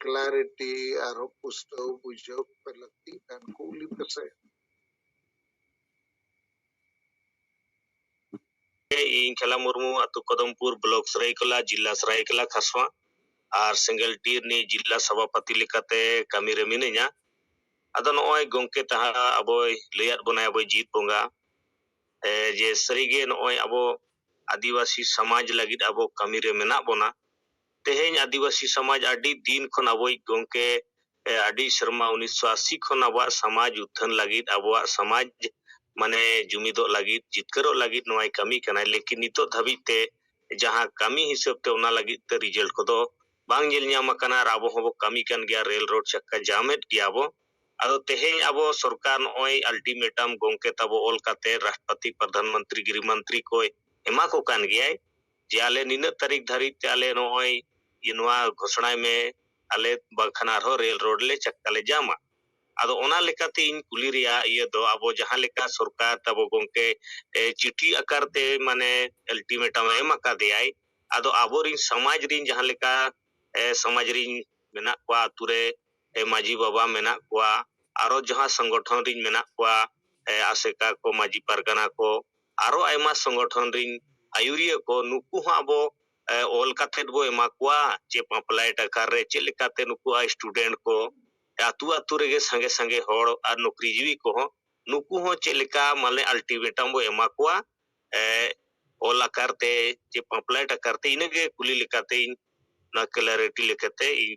S2: ᱠᱞᱟᱨᱤᱴᱤ ᱟᱨᱦᱚᱸ ᱯᱩᱥᱴᱟᱹᱣ ᱵᱩᱡᱷᱟᱹᱣ ᱯᱮ ᱞᱟᱹᱠᱛᱤᱜ ᱠᱟᱱ ᱠᱩᱞᱤ ᱯᱮᱥᱮ ᱤᱧ ᱠᱷᱮᱞᱟ ᱢᱩᱨᱢᱩ ᱟᱹᱛᱩ ᱠᱚᱫᱚᱢᱯᱩᱨ ᱵᱞᱚᱠ ᱥᱟᱹᱨᱟᱹᱭᱠᱮᱞᱟ ᱡᱤᱞᱟ ᱥᱟᱹᱨᱟᱹᱭᱠᱮᱞᱟ ᱠᱷᱟᱨᱥᱚᱶᱟ ᱟᱨ ᱥᱮᱸᱜᱮᱞ ᱴᱤ ᱨᱤᱱᱤᱡ ᱡᱤᱞᱟ ᱥᱚᱵᱷᱟᱯᱟᱹᱛᱤ ᱞᱮᱠᱟᱛᱮ ᱠᱟᱹᱢᱤ ᱨᱮ ᱢᱤᱱᱟᱹᱧᱟ ᱟᱫᱚ ᱱᱚᱜᱼᱚᱭ ᱜᱚᱢᱠᱮ ᱛᱟᱦᱟᱸ ᱟᱵᱚᱭ ᱞᱟᱹᱭᱟᱫ ᱵᱚᱱᱟᱭ ᱟᱵᱚᱭ ᱡᱤᱛ ᱵᱚᱸᱜᱟ ᱡᱮ ᱥᱟᱹᱨᱤᱜᱮ ᱱᱚᱜᱼᱚᱭ ᱟᱵᱚ ᱟᱹᱫᱤᱵᱟᱹᱥᱤ ᱥᱚᱢᱟᱡᱽ ᱞᱟᱹᱜᱤᱫ ᱟᱵᱚ ᱠᱟᱹᱢᱤ ᱨᱮ ᱢᱮᱱᱟᱜ ᱵᱚᱱᱟ ᱛᱮᱦᱮᱧ ᱟᱹᱫᱤᱵᱟᱹᱥᱤ ᱥᱚᱢᱟᱡᱽ ᱟᱹᱰᱤ ᱫᱤᱱ ᱠᱷᱚᱱ ᱟᱵᱚᱭᱤᱡ ᱜᱚᱢᱠᱮ ᱟᱹᱰᱤ ᱥᱮᱨᱢᱟ ᱩᱱᱤᱥ ᱥᱚ ᱟᱥᱤ ᱠᱷᱚᱱ ᱟᱵᱚᱣᱟᱜ ᱥᱚᱢᱟᱡᱽ ᱩᱛᱷᱟᱹᱱ ᱞᱟᱹᱜᱤᱫ ᱟᱵᱚᱣᱟᱜ ᱥᱚᱢᱟᱡᱽ ᱢᱟᱱᱮ ᱡᱩᱢᱤᱫᱚᱜ ᱞᱟᱹᱜᱤᱫ ᱡᱤᱛᱠᱟᱹᱨᱚᱜ ᱞᱟᱹᱜᱤᱫ ᱱᱚᱣᱟᱭ ᱠᱟᱹᱢᱤ ᱠᱟᱱᱟᱭ ᱞᱮᱠᱤᱱ ᱱᱤᱛᱚᱜ ᱫᱷᱟᱹᱵᱤᱡ ᱛᱮ ᱡᱟᱦᱟᱸ ᱠᱟᱹᱢᱤ ᱦᱤᱥᱟᱹᱵ ᱛᱮ ᱚᱱᱟ ᱞᱟᱹᱜᱤᱫ ᱛᱮ ᱨᱤᱡᱟᱞᱴ ᱠᱚᱫᱚ ᱵᱟᱝ ᱧᱮᱞ ᱧᱟᱢ ᱟᱠᱟᱱᱟ ᱟᱨ ᱟᱵᱚ ᱦᱚᱸᱵᱚ ᱠᱟᱹᱢᱤ ᱠᱟᱱ ᱜᱮᱭᱟ ᱨᱮᱞ ᱨᱳᱰ ᱪᱟᱠᱠᱟ ᱡᱟᱢᱮᱫ ᱜᱮᱭᱟ ᱵᱚ ᱟᱫᱚ ᱛᱮᱦᱮᱧ ᱟᱵᱚ ᱥᱚᱨᱠᱟᱨ ᱱᱚᱜᱼᱚᱭ ᱟᱞᱴᱤᱢᱮᱴᱟᱢ ᱜᱚᱢᱠᱮ ᱛᱟᱵᱚ ᱚᱞ ᱠᱟᱛᱮ ᱨᱟᱥᱴᱨᱚᱯᱟᱛᱤ ᱯᱨᱚᱫᱷᱟᱱ ᱢᱚᱱᱛᱨᱤ ᱜᱨᱤᱦ ᱢᱚᱱᱛᱨᱤ ᱠᱚᱭ ᱮᱢᱟ ᱠᱚ ᱠᱟᱱ ᱜᱮᱭᱟᱭ ᱡᱮ ᱟᱞᱮ ᱱᱤᱱᱟᱹᱜ ᱛᱟᱹᱨᱤᱠᱷ ᱫᱷᱟᱹᱨᱤᱡ ᱛᱮ ᱟᱞᱮ ᱱᱚᱜᱼᱚᱭ ᱡᱮ ᱱᱚᱣᱟ ᱜᱷᱳᱥᱚᱱᱟᱭ ᱢᱮ ᱟᱞᱮ ᱵᱟᱝᱠᱷᱟᱱ ᱟᱨᱦᱚᱸ ᱨᱮᱞ ᱨᱳᱰ ᱞᱮ ᱪᱟᱠᱟ ᱞᱮ ᱡᱟᱢᱟ ᱟᱫᱚ ᱚᱱᱟ ᱞᱮᱠᱟᱛᱮ ᱤᱧ ᱠᱩᱞᱤ ᱨᱮᱭᱟᱜ ᱤᱭᱟᱹ ᱫᱚ ᱟᱵᱚ ᱡᱟᱦᱟᱸ ᱞᱮᱠᱟ ᱥᱚᱨᱠᱟᱨ ᱛᱟᱵᱚ ᱜᱚᱝᱠᱮ ᱮ, ᱪᱤᱴᱷᱤ ᱟᱠᱟᱨ ᱛᱮ ᱢᱟᱱᱮ ᱟᱞᱴᱤᱢᱮᱴᱟᱢ ᱮᱢ ᱟᱠᱟᱫᱮᱭᱟᱭ ᱟᱫᱚ ᱟᱵᱚᱨᱤᱱ ᱥᱚᱢᱟᱡᱽ ᱨᱤᱱ ᱡᱟᱦᱟᱸ ᱞᱮᱠᱟ ᱮ, ᱥᱚᱢᱟᱡᱽ ᱨᱤᱱ ᱢᱮᱱᱟᱜ ᱠᱚᱣᱟ ᱟᱛᱩ ᱨᱮ ᱮ ᱢᱟᱹᱡᱷᱤ ᱵᱟᱵᱟ ᱢᱮᱱᱟᱜ ᱠᱚᱣᱟ ᱟᱨᱚ ᱡᱟᱦᱟᱸ ᱥᱚᱝᱜᱚᱴᱷᱚᱱ ᱨᱤᱧ ᱢᱮᱱᱟᱜ ᱠᱚᱣᱟ ᱮ ᱟᱥᱮᱠᱟ ᱠᱚ ᱢᱟᱹᱡᱷᱤ ᱯᱟᱨᱜᱟᱱᱟ ᱠᱚ ᱟᱨᱚ ᱟᱭᱢᱟ ᱥᱚᱝᱜᱚᱴᱷᱚᱱ ᱨᱤᱧ ᱟᱹᱭᱩᱨᱤᱭᱟᱹ ᱠᱚ ᱱᱩᱠᱩ ᱦᱚᱸ ᱟᱵᱚ ᱮ ᱚᱞ ᱠᱟᱛᱮᱫ ᱵᱚ ᱮᱢᱟ ᱠᱚᱣᱟ ᱡᱮ ᱯᱟᱢᱯᱞᱮᱴ ᱟᱠᱟᱨ ᱨᱮ ᱪᱮᱫ ᱞᱮᱠᱟᱛᱮ ᱱᱩᱠᱩ ᱟᱭ ᱥᱴᱩᱰᱮᱱᱴ ᱠᱚ ᱟᱹᱛᱩ ᱟᱹᱛᱩ ᱨᱮᱜᱮ ᱥᱟᱸᱜᱮ ᱥᱟᱸᱜᱮ ᱦᱚᱲ ᱟᱨ ᱱᱩᱠᱨᱤ ᱡᱤᱣᱤ ᱠᱚᱦᱚᱸ ᱱᱩᱠᱩ ᱦᱚᱸ ᱪᱮᱫ ᱞᱮᱠᱟ ᱢᱟᱱᱮ ᱟᱞᱴᱤᱢᱮᱴᱟᱢ ᱵᱚ ᱮᱢᱟ ᱠᱚᱣᱟ ᱮ ᱚᱞ ᱟᱠᱟᱨ ᱛᱮ ᱡᱮ ᱯᱟᱢᱯᱞᱮᱴ ᱟᱠᱟᱨ ᱛᱮ ᱤᱱᱟᱹᱜᱮ ᱠᱩᱞᱤ ᱞᱮᱠᱟᱛᱮ ᱤᱧ ᱱᱚᱣᱟ ᱠᱞᱮᱨᱤᱴᱤ ᱞᱮᱠᱟᱛᱮ ᱤᱧ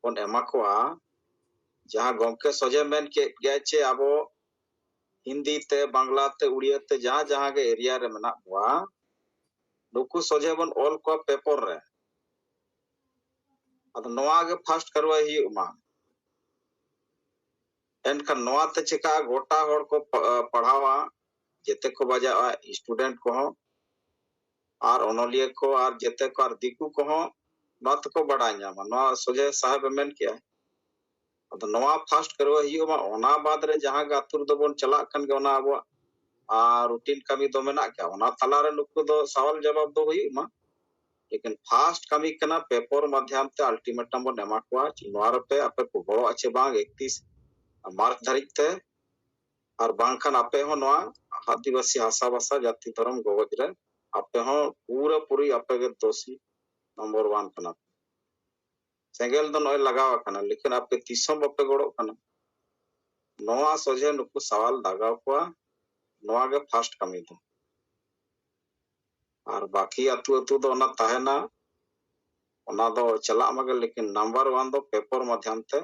S3: ᱵᱚᱱ ᱮᱢᱟ ᱠᱚᱣᱟ ᱡᱟᱦᱟᱸ ᱜᱚᱢᱠᱮ ᱥᱚᱡᱷᱮ ᱢᱮᱱ ᱠᱮᱫ ᱜᱮᱭᱟ ᱪᱮ ᱟᱵᱚ ᱦᱤᱱᱫᱤ ᱛᱮ ᱵᱟᱝᱞᱟ ᱛᱮ ᱩᱲᱤᱭᱟ ᱛᱮ ᱡᱟᱦᱟᱸ ᱡᱟᱦᱟᱸ ᱜᱮ ᱮᱨᱤᱭᱟ ᱨᱮ ᱢᱮᱱᱟᱜ ᱵᱚᱣᱟ ᱱᱩᱠᱩ ᱥᱚᱡᱷᱮ ᱵᱚᱱ ᱚᱞ ᱠᱚᱣᱟ ᱯᱮᱯᱚᱨ ᱨᱮ ᱟᱫᱚ ᱱᱚᱣᱟ ᱜᱮ ᱯᱷᱟᱥᱴ ᱠᱟᱨᱣᱟᱭ ᱦᱩᱭᱩᱜ ᱢᱟ ᱮᱱᱠᱷᱟᱱ ᱱᱚᱣᱟ ᱛᱮ ᱪᱮᱠᱟ ᱜᱚᱴᱟ ᱦᱚᱲ ᱠᱚ ᱯᱟᱲᱦᱟᱣᱟ ᱡᱮᱛᱮ ᱠᱚ ᱵᱟᱡᱟᱜᱼᱟ ᱥᱴᱩᱰᱮᱱᱴ ᱠᱚᱦᱚᱸ ᱟᱨ ᱚᱱᱚᱞᱤᱭᱟᱹ ᱠᱚ ᱟᱨ ᱡᱮᱛᱮ ᱠᱚ ᱟᱨ ᱫᱤᱠᱩ ᱠᱚᱦᱚᱸ ᱱᱚᱣᱟ ᱛᱮᱠᱚ ᱵᱟᱰᱟᱭ ᱧᱟᱢᱟ ᱱᱚᱣᱟ ᱥᱚᱡᱷᱮ ᱥᱟᱦᱮᱵ ᱮ ᱢᱮᱱ ᱠᱮᱜᱼᱟ ᱟᱫᱚ ᱱᱚᱣᱟ ᱯᱷᱟᱥᱴ ᱠᱟᱹᱨᱣᱟᱹ ᱦᱩᱭᱩᱜ ᱢᱟ ᱚᱱᱟ ᱵᱟᱫ ᱨᱮ ᱡᱟᱦᱟᱸ ᱜᱮ ᱟᱹᱛᱩ ᱨᱮᱫᱚ ᱵᱚᱱ ᱪᱟᱞᱟᱜ ᱠᱟᱱ ᱜᱮ ᱚᱱᱟ ᱟᱵᱚᱣᱟᱜ ᱨᱩᱴᱤᱱ ᱠᱟᱹᱢᱤ ᱫᱚ ᱢᱮᱱᱟᱜ ᱜᱮᱭᱟ ᱚᱱᱟ ᱛᱟᱞᱟ ᱨᱮ ᱱᱩᱠᱩ ᱫᱚ ᱥᱟᱣᱟᱞ ᱡᱟᱵᱟᱵ ᱫᱚ ᱦᱩᱭᱩᱜ ᱢᱟ ᱞᱮᱠᱤᱱ ᱯᱷᱟᱥᱴ ᱠᱟᱹᱢᱤ ᱠᱟᱱᱟ ᱯᱮᱯᱚᱨ ᱢᱟᱫᱷᱭᱟᱢ ᱛᱮ ᱟᱞᱴᱤᱢᱮᱴᱟᱢ ᱵᱚᱱ ᱮᱢᱟ ᱠᱚᱣᱟ ᱱᱚᱣᱟ ᱨᱮᱯᱮ ᱟᱯᱮ ᱠᱚ ᱜᱚᱲᱚᱜᱼᱟ ᱪᱮ ᱵᱟᱝ ᱮᱠᱛᱤᱥ ᱢᱟᱨᱪ ᱫᱷᱟᱹᱨᱤᱡ ᱛᱮ ᱟᱨ ᱵᱟᱝᱠᱷᱟᱱ ᱟᱯᱮ ᱦᱚᱸ ᱱᱚᱣᱟ ᱟᱹᱫᱤᱵᱟᱹᱥᱤ ᱦᱟᱥᱟ ᱵᱷᱟᱥᱟ ᱡᱟᱹᱛᱤ ᱫᱷᱚᱨᱚᱢ ᱜᱚᱜᱚᱡ ᱨᱮ ᱟᱯᱮ ᱦᱚᱸ ᱯᱩᱨᱟᱹ ᱯᱩᱨᱤ ᱟᱯᱮ ᱜᱮ ᱫᱳᱥᱤ ᱱᱚᱢᱵᱚᱨ ᱣᱟᱱ ᱠᱟᱱᱟ ᱯᱮ ᱥᱮᱸᱜᱮᱞ ᱫᱚ ᱱᱚᱜᱼᱚᱭ ᱞᱟᱜᱟᱣ ᱟᱠᱟᱱᱟ ᱞᱮᱠᱤᱱ ᱟᱯᱮ ᱛᱤᱥ ᱦᱚᱸ ᱵᱟᱯᱮ ᱜᱚᱲᱚᱜ ᱠᱟᱱᱟ ᱱᱚᱣᱟ ᱥᱚᱡᱷᱮ ᱱᱩᱠᱩ ᱥᱟᱣᱟᱞ ᱫᱟᱜᱟᱣ ᱠᱚᱣᱟ ᱱᱚᱣᱟ ᱜᱮ ᱯᱷᱟᱥᱴ ᱠᱟᱹᱢᱤ ᱫᱚ ᱟᱨ ᱵᱟᱠᱤ ᱟᱹᱛᱩ ᱟᱹᱛᱩ ᱫᱚ ᱚᱱᱟ ᱛᱟᱦᱮᱱᱟ ᱚᱱᱟ ᱫᱚ ᱪᱟᱞᱟᱜ ᱢᱟᱜᱮ ᱞᱮᱠᱤᱱ ᱱᱟᱢᱵᱟᱨ ᱣᱟᱱ ᱫᱚ ᱯᱮᱯᱚᱨ ᱢᱟᱫᱷᱭᱟᱢ ᱛᱮ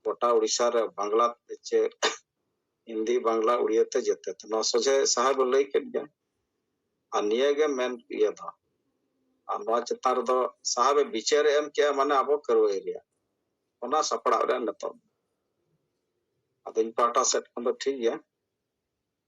S3: ᱜᱚᱴᱟ ᱩᱲᱤᱥᱥᱟ ᱨᱮ ᱵᱟᱝᱞᱟ ᱪᱮ ᱦᱤᱱᱫᱤ ᱵᱟᱝᱞᱟ ᱩᱲᱤᱭᱟ ᱛᱮ ᱡᱮᱛᱮ ᱛᱮ ᱱᱚᱣᱟ ᱥᱚᱡᱷᱮ ᱥᱟᱦᱮᱵ ᱮ ᱞᱟᱹᱭ ᱠᱮᱫ ᱜᱮᱭᱟ ᱟᱨ ᱱᱤᱭᱟᱹ ᱜᱮ ᱢᱮᱱ ᱤᱭᱟᱹ ᱫᱚ ᱟᱨ ᱱᱚᱣᱟ ᱪᱮᱛᱟᱱ ᱨᱮᱫᱚ ᱥᱟᱦᱮᱵ ᱮ ᱵᱤᱪᱟᱹᱨ ᱮᱢ ᱠᱮᱜᱼᱟ ᱢᱟᱱᱮ ᱟᱵᱚ ᱠᱟᱹᱨᱣᱟᱹ ᱮᱨᱤᱭᱟ ᱚᱱᱟ ᱥᱟᱯᱲᱟᱣ ᱨᱮ ᱱᱤᱛᱚᱜ ᱟᱫᱚ ᱤᱧ ᱯᱟᱦᱴᱟ ᱥᱮᱫ ᱠᱷᱚᱱ ᱫᱚ ᱴᱷᱤᱠ ᱜᱮᱭᱟ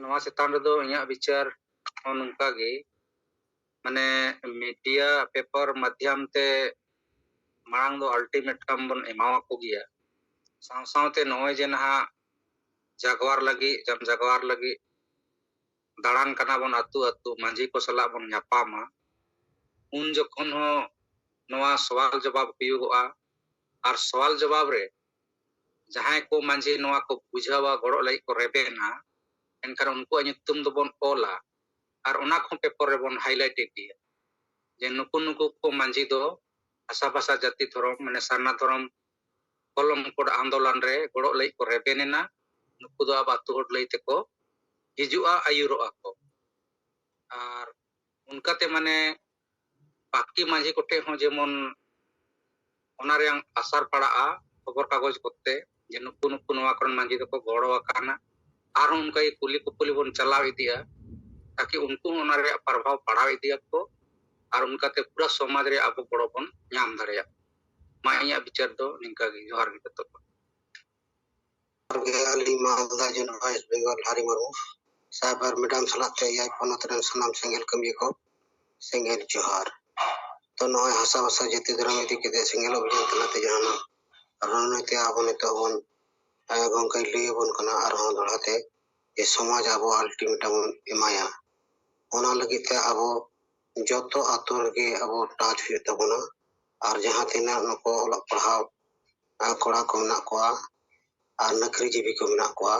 S4: ᱱᱚᱣᱟ ᱪᱮᱛᱟᱱ ᱨᱮᱫᱚ ᱤᱧᱟᱹᱜ ᱵᱤᱪᱟᱹᱨ ᱦᱚᱸ ᱱᱚᱝᱠᱟ ᱜᱮ ᱢᱟᱱᱮ ᱢᱤᱰᱤᱭᱟ ᱯᱮᱯᱟᱨ ᱢᱟᱫᱽᱭᱟᱢ ᱛᱮ ᱢᱟᱲᱟᱝ ᱫᱚ ᱟᱞᱴᱤᱢᱮᱴᱟᱢ ᱵᱚᱱ ᱮᱢᱟᱣᱟᱠᱚ ᱜᱮᱭᱟ ᱥᱟᱶ ᱥᱟᱶᱛᱮ ᱱᱚᱜᱼᱚᱭ ᱡᱮ ᱱᱟᱦᱟᱜ ᱡᱟᱜᱣᱟᱨ ᱞᱟᱹᱜᱤᱫ ᱡᱟᱢ ᱡᱟᱜᱣᱟᱨ ᱞᱟᱹᱜᱤᱫ ᱫᱟᱬᱟᱱ ᱠᱟᱱᱟ ᱵᱚᱱ ᱟᱹᱛᱩ ᱟᱹᱛᱩ ᱢᱟᱺᱡᱷᱤ ᱠᱚ ᱥᱟᱞᱟᱜ ᱵᱚᱱ ᱧᱟᱯᱟᱢᱟ ᱩᱱ ᱡᱚᱠᱷᱚᱱ ᱦᱚᱸ ᱱᱚᱣᱟ ᱥᱚᱣᱟᱞ ᱡᱚᱵᱟᱵ ᱦᱩᱭᱩᱜᱚᱜᱼᱟ ᱟᱨ ᱥᱚᱣᱟᱞ ᱡᱚᱵᱟᱵ ᱨᱮ ᱡᱟᱦᱟᱸᱭ ᱠᱚ ᱢᱟᱺᱡᱷᱤ ᱱᱚᱣᱟ ᱠᱚ ᱵᱩᱡᱷᱟᱹᱣᱟ ᱜᱚᱲᱚᱜ ᱞᱟᱹᱜᱤᱫ ᱠᱚ ᱨᱮᱵᱮᱱᱟ ᱮᱱᱠᱷᱟᱱ ᱩᱱᱠᱩᱣᱟᱜ ᱧᱩᱛᱩᱢ ᱫᱚᱵᱚᱱ ᱚᱞᱟ ᱟᱨ ᱚᱱᱟ ᱠᱚᱦᱚᱸ ᱯᱮᱯᱚᱨ ᱨᱮᱵᱚᱱ ᱦᱟᱭᱞᱟᱭᱤᱴ ᱤᱫᱤᱭᱟ ᱡᱮ ᱱᱩᱠᱩ ᱱᱩᱠᱩ ᱠᱚ ᱢᱟᱺᱡᱷᱤ ᱫᱚ ᱵᱷᱟᱥᱟ ᱵᱷᱟᱥᱟ ᱡᱟᱹᱛᱤ ᱫᱷᱚᱨᱚᱢ ᱢᱟᱱᱮ ᱥᱟᱨᱱᱟ ᱫᱷᱚᱨᱚᱢ ᱠᱚᱞᱚᱢ ᱠᱳᱰ ᱟᱱᱫᱳᱞᱚᱱ ᱨᱮ ᱜᱚᱲᱚᱜ ᱞᱟᱹᱜᱤᱫ ᱠᱚ ᱨᱮᱵᱮᱱ ᱮᱱᱟ ᱱᱩᱠᱩ ᱫᱚ ᱟᱵᱚ ᱟᱹᱛᱩ ᱦᱚᱲ ᱞᱟᱹᱭ ᱛᱮᱠᱚ ᱦᱤᱡᱩᱜᱼᱟ ᱟᱹᱭᱩᱨᱚᱜᱼᱟ ᱠᱚ ᱟᱨ ᱚᱱᱠᱟᱛᱮ ᱢᱟᱱᱮ ᱯᱟᱠᱴᱤ ᱢᱟᱹᱡᱷᱤ ᱠᱚᱴᱷᱮᱡ ᱦᱚᱸ ᱡᱮᱢᱚᱱ ᱚᱱᱟ ᱨᱮᱭᱟᱝ ᱟᱥᱟᱨ ᱯᱟᱲᱟᱜᱼᱟ ᱠᱷᱚᱵᱚᱨ ᱠᱟᱜᱚᱡᱽ ᱠᱚᱛᱮ ᱡᱮ ᱱᱩᱠᱩ ᱱᱩᱠᱩ ᱱᱚᱣᱟ ᱠᱚᱨᱮᱱ ᱢᱟᱹᱡᱷᱤ ᱫᱚᱠᱚ ᱜᱚᱲᱚ ᱟᱠᱟᱱᱟ ᱟᱨᱦᱚᱸ ᱚᱱᱠᱟ ᱜᱮ ᱠᱩᱞᱤ ᱠᱩᱯᱩᱞᱤ ᱵᱚᱱ ᱪᱟᱞᱟᱣ ᱤᱫᱤᱜᱼᱟ ᱛᱟᱠᱤ ᱩᱱᱠᱩ ᱦᱚᱸ ᱚᱱᱟ ᱨᱮᱭᱟᱜ ᱯᱨᱚᱵᱷᱟᱣ ᱯᱟᱲᱟᱣ ᱤᱫᱤᱭᱟᱠᱚ ᱟᱨ ᱚᱱᱠᱟᱛᱮ ᱯᱩᱨᱟᱹ ᱥᱚᱢᱟᱡᱽ ᱨᱮ ᱟᱵᱚ ᱜᱚᱲᱚ ᱵᱚᱱ ᱧᱟᱢ ᱫᱟᱲᱮᱭᱟᱜ ᱢᱟ ᱤᱧᱟᱹᱜ ᱵᱤᱪᱟᱹᱨ ᱫᱚ ᱱᱤᱝᱠᱟᱹ ᱜᱮ ᱡᱚᱦᱟᱨ ᱜᱮ ᱡᱚᱛᱚ ᱠᱚ
S5: ᱟᱹᱞᱤᱧ ᱢᱟᱞᱫᱟ ᱡᱚᱱᱚᱜ ᱳᱭᱮᱥᱴ ᱵᱮᱝᱜᱚᱞ ᱦᱟᱨᱤ ᱢᱩᱨᱢᱩ ᱥᱟᱭᱵᱟᱨ ᱢᱮᱰᱟᱢ ᱥᱟᱞᱟᱜ ᱛᱮ ᱮᱭᱟᱭ ᱯᱚᱱᱚᱛ ᱨᱮᱱ ᱥᱟᱱᱟᱢ ᱥᱮᱸᱜᱮᱞ ᱠᱟᱹᱢᱤᱭᱟᱹ ᱠᱚ ᱥᱮᱸᱜᱮᱞ ᱡᱚᱦᱟᱨ ᱛᱚ ᱱᱚᱜᱼᱚᱭ ᱦᱟᱥᱟ ᱵᱷᱟᱥᱟ ᱡᱟᱹᱛᱤ ᱫᱷᱚᱨᱚᱢ ᱤᱫᱤ ᱠᱟᱛᱮ ᱥᱮᱸᱜᱮᱞ ᱚᱵᱷᱤᱡᱟᱱ ᱛᱟᱞᱟᱛᱮ ᱡᱟᱦᱟᱱᱟᱜ ᱨᱚᱱᱚᱭᱛᱮ ᱟᱵᱚ ᱱᱤᱛᱚᱜ ᱵᱚᱱ ᱜᱚᱢᱠᱮ ᱞᱟᱹᱭ ᱟᱵᱚᱱ ᱠᱟᱱᱟ ᱟᱨᱦᱚᱸ ᱫᱚᱲᱦᱟᱛᱮ ᱡᱮ ᱥᱚᱢᱟᱡᱽ ᱟᱵᱚ ᱟᱞᱴᱤᱢᱮᱴᱟᱢ ᱵᱚᱱ ᱮᱢᱟᱭᱟ ᱚᱱᱟ ᱞᱟᱹᱜᱤᱫ ᱛᱮ ᱟᱵᱚ ᱡᱚᱛᱚ ᱟᱛᱳ ᱨᱮᱜᱮ ᱟᱵᱚ ᱴᱟᱪ ᱦᱩᱭᱩᱜ ᱛᱟᱵᱚᱱᱟ ᱟᱨ ᱡᱟᱦᱟᱸ ᱛᱤᱱᱟᱹᱜ ᱱᱩᱠᱩ ᱚᱞᱚᱜ ᱯᱟᱲᱦᱟᱣ ᱠᱚᱲᱟ ᱠᱚ ᱢᱮᱱᱟᱜ ᱠᱚᱣᱟ ᱟᱨ ᱱᱩᱠᱨᱤ ᱡᱤᱵᱤ ᱠᱚ ᱢᱮᱱᱟᱜ ᱠᱚᱣᱟ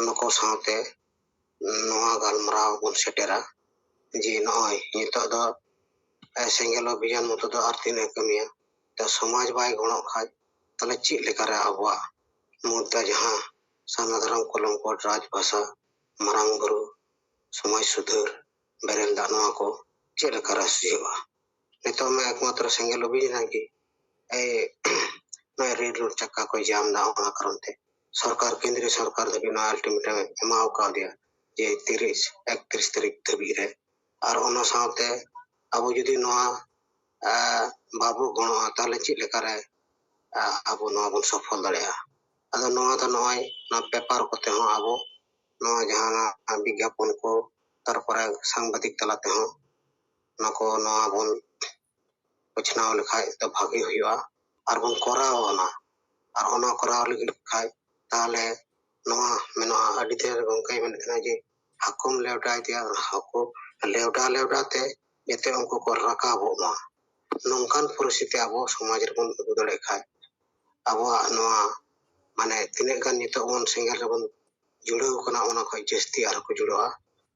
S5: ᱱᱩᱠᱩ ᱥᱟᱶᱛᱮ ᱱᱚᱣᱟ ᱜᱟᱞᱢᱟᱨᱟᱣ ᱵᱚᱱ ᱥᱮᱴᱮᱨᱟ ᱡᱮ ᱱᱚᱜᱼᱚᱭ ᱱᱤᱛᱚᱜ ᱫᱚ ᱥᱮᱸᱜᱮᱞ ᱚᱵᱷᱤᱡᱟᱱ ᱢᱚᱛᱚ ᱫᱚ ᱟᱨ ᱛᱤᱱᱟᱹᱜ ᱮ ᱠᱟᱹᱢᱤᱭᱟ ᱛᱚ ᱥᱚᱢᱟᱡᱽ ᱵᱟᱭ ᱜᱚᱲᱚᱜ ᱠᱷᱟᱱ ᱛᱟᱦᱚᱞᱮ ᱪᱮᱫ ᱞᱮᱠᱟᱨᱮ ᱟᱵᱚᱣᱟᱜ ᱢᱩᱫᱽ ᱨᱮ ᱡᱟᱦᱟᱸ ᱥᱟᱨᱱᱟ ᱫᱷᱚᱨᱚᱢ ᱠᱚᱞᱚᱢ ᱠᱚᱰ ᱨᱟᱡᱽ ᱵᱷᱟᱥᱟ ᱢᱟᱨᱟᱝ ᱵᱩᱨᱩ ᱥᱚᱢᱟᱡᱽ ᱥᱩᱫᱷᱟᱹᱨ ᱵᱮᱨᱮᱞ ᱫᱟᱜ ᱱᱚᱣᱟ ᱠᱚ ᱪᱮᱫ ᱞᱮᱠᱟ ᱨᱟᱥ ᱦᱩᱭᱩᱜᱼᱟ ᱱᱤᱛᱚᱜ ᱢᱟ ᱮᱠᱢᱟᱛᱨᱚ ᱥᱮᱸᱜᱮᱞ ᱚᱵᱷᱤᱡᱟᱱ ᱨᱮᱱᱟᱜ ᱜᱮ ᱱᱚᱣᱟ ᱨᱮᱞ ᱨᱳᱰ ᱪᱟᱠᱟ ᱠᱚᱭ ᱡᱟᱢ ᱮᱫᱟ ᱚᱱᱟ ᱠᱟᱨᱚᱱ ᱛᱮ ᱥᱚᱨᱠᱟᱨ ᱠᱮᱱᱫᱨᱤᱭᱚ ᱥᱚᱨᱠᱟᱨ ᱫᱷᱟᱹᱵᱤᱡ ᱱᱚᱣᱟ ᱟᱞᱴᱤᱢᱮᱴᱟᱢ ᱮᱢᱟ ᱠᱟᱣᱫᱮᱭᱟ ᱡᱮ ᱛᱤᱨᱤᱥ ᱮᱠᱛᱨᱤᱥ ᱛᱟᱹᱨᱤᱠᱷ ᱫᱷᱟᱹᱵᱤᱡ ᱨᱮ ᱟᱨ ᱚᱱᱟ ᱥᱟᱶᱛᱮ ᱟᱵᱚ ᱡᱩᱫᱤ ᱱᱚᱣᱟ ᱵᱟᱵᱚ ᱜᱚᱲᱚᱜᱼᱟ ᱛᱟᱦᱚᱞᱮ ᱪᱮᱫ ᱞᱮᱠᱟᱨᱮ ᱟᱵᱚ ᱱᱚᱣᱟ ᱵᱚᱱ ᱥᱚᱯᱷᱚᱞ ᱫᱟᱲᱮᱭᱟᱜᱼᱟ ᱟᱫᱚ ᱱᱚᱣᱟ ᱫᱚ ᱱᱚᱜᱼᱚᱭ ᱱᱚᱣᱟ ᱯᱮᱯᱟᱨ ᱠᱚᱛᱮ ᱦᱚᱸ ᱟᱵᱚ ᱱᱚᱣᱟ ᱡᱟᱦᱟᱱᱟᱜ ᱵᱤᱜᱽᱜᱟᱯᱚᱱ ᱠᱚ ᱛᱟᱨᱯᱚᱨᱮ ᱥᱟᱝᱵᱟᱫᱤᱠ ᱛᱟᱞᱟ ᱛᱮᱦᱚᱸ ᱚᱱᱟ ᱠᱚ ᱱᱚᱣᱟ ᱵᱚᱱ ᱩᱪᱷᱱᱟᱹᱣ ᱞᱮᱠᱷᱟᱡ ᱫᱚ ᱵᱷᱟᱜᱮ ᱦᱩᱭᱩᱜᱼᱟ ᱟᱨ ᱵᱚᱱ ᱠᱚᱨᱟᱣ ᱚᱱᱟ ᱟᱨ ᱚᱱᱟ ᱠᱚᱨᱟᱣ ᱞᱟᱹᱜᱤᱫ ᱠᱷᱟᱡ ᱛᱟᱦᱚᱞᱮ ᱱᱚᱣᱟ ᱢᱮᱱᱟᱜᱼᱟ ᱟᱹᱰᱤ ᱫᱤᱱ ᱨᱮ ᱜᱚᱝᱠᱮᱭ ᱢᱮᱱᱮᱫ ᱛᱟᱦᱮᱱᱟ ᱡᱮ ᱦᱟᱹᱠᱩᱢ ᱞᱮᱣᱰᱟ ᱤᱫᱤᱭᱟ ᱦᱟᱹᱠᱩ ᱞᱮᱣᱰᱟ ᱞᱮᱣᱰᱟ ᱛᱮ ᱡᱟᱛᱮ ᱩᱱᱠᱩ ᱠᱚ ᱨᱟᱠᱟᱵᱚᱜ ᱢᱟ ᱱᱚᱝᱠᱟᱱ ᱯᱚᱨᱤᱥᱛᱷᱤᱛᱤ ᱟᱵᱚ ᱥᱚᱢᱟᱡᱽ ᱨᱮᱵᱚᱱ ᱟᱹᱜᱩ ᱫᱟᱲᱮᱭᱟᱜ ᱠᱷᱟᱡ ᱟᱵᱚᱣᱟᱜ ᱱᱚᱣᱟ ᱢᱟᱱᱮ ᱛᱤᱱᱟᱹᱜ ᱜᱟᱱ ᱱᱤᱛᱚᱜ ᱵᱚᱱ ᱥᱮᱸᱜᱮᱞ ᱨᱮᱵᱚᱱ ᱡᱩᱲᱟᱹᱣ ᱟᱠᱟᱱᱟ ᱚᱱᱟ ᱠᱷᱚᱱ ᱡᱟᱹᱥᱛᱤ ᱟᱨᱦᱚᱸ ᱠᱚ ᱡᱩᱲᱟᱹᱜᱼᱟ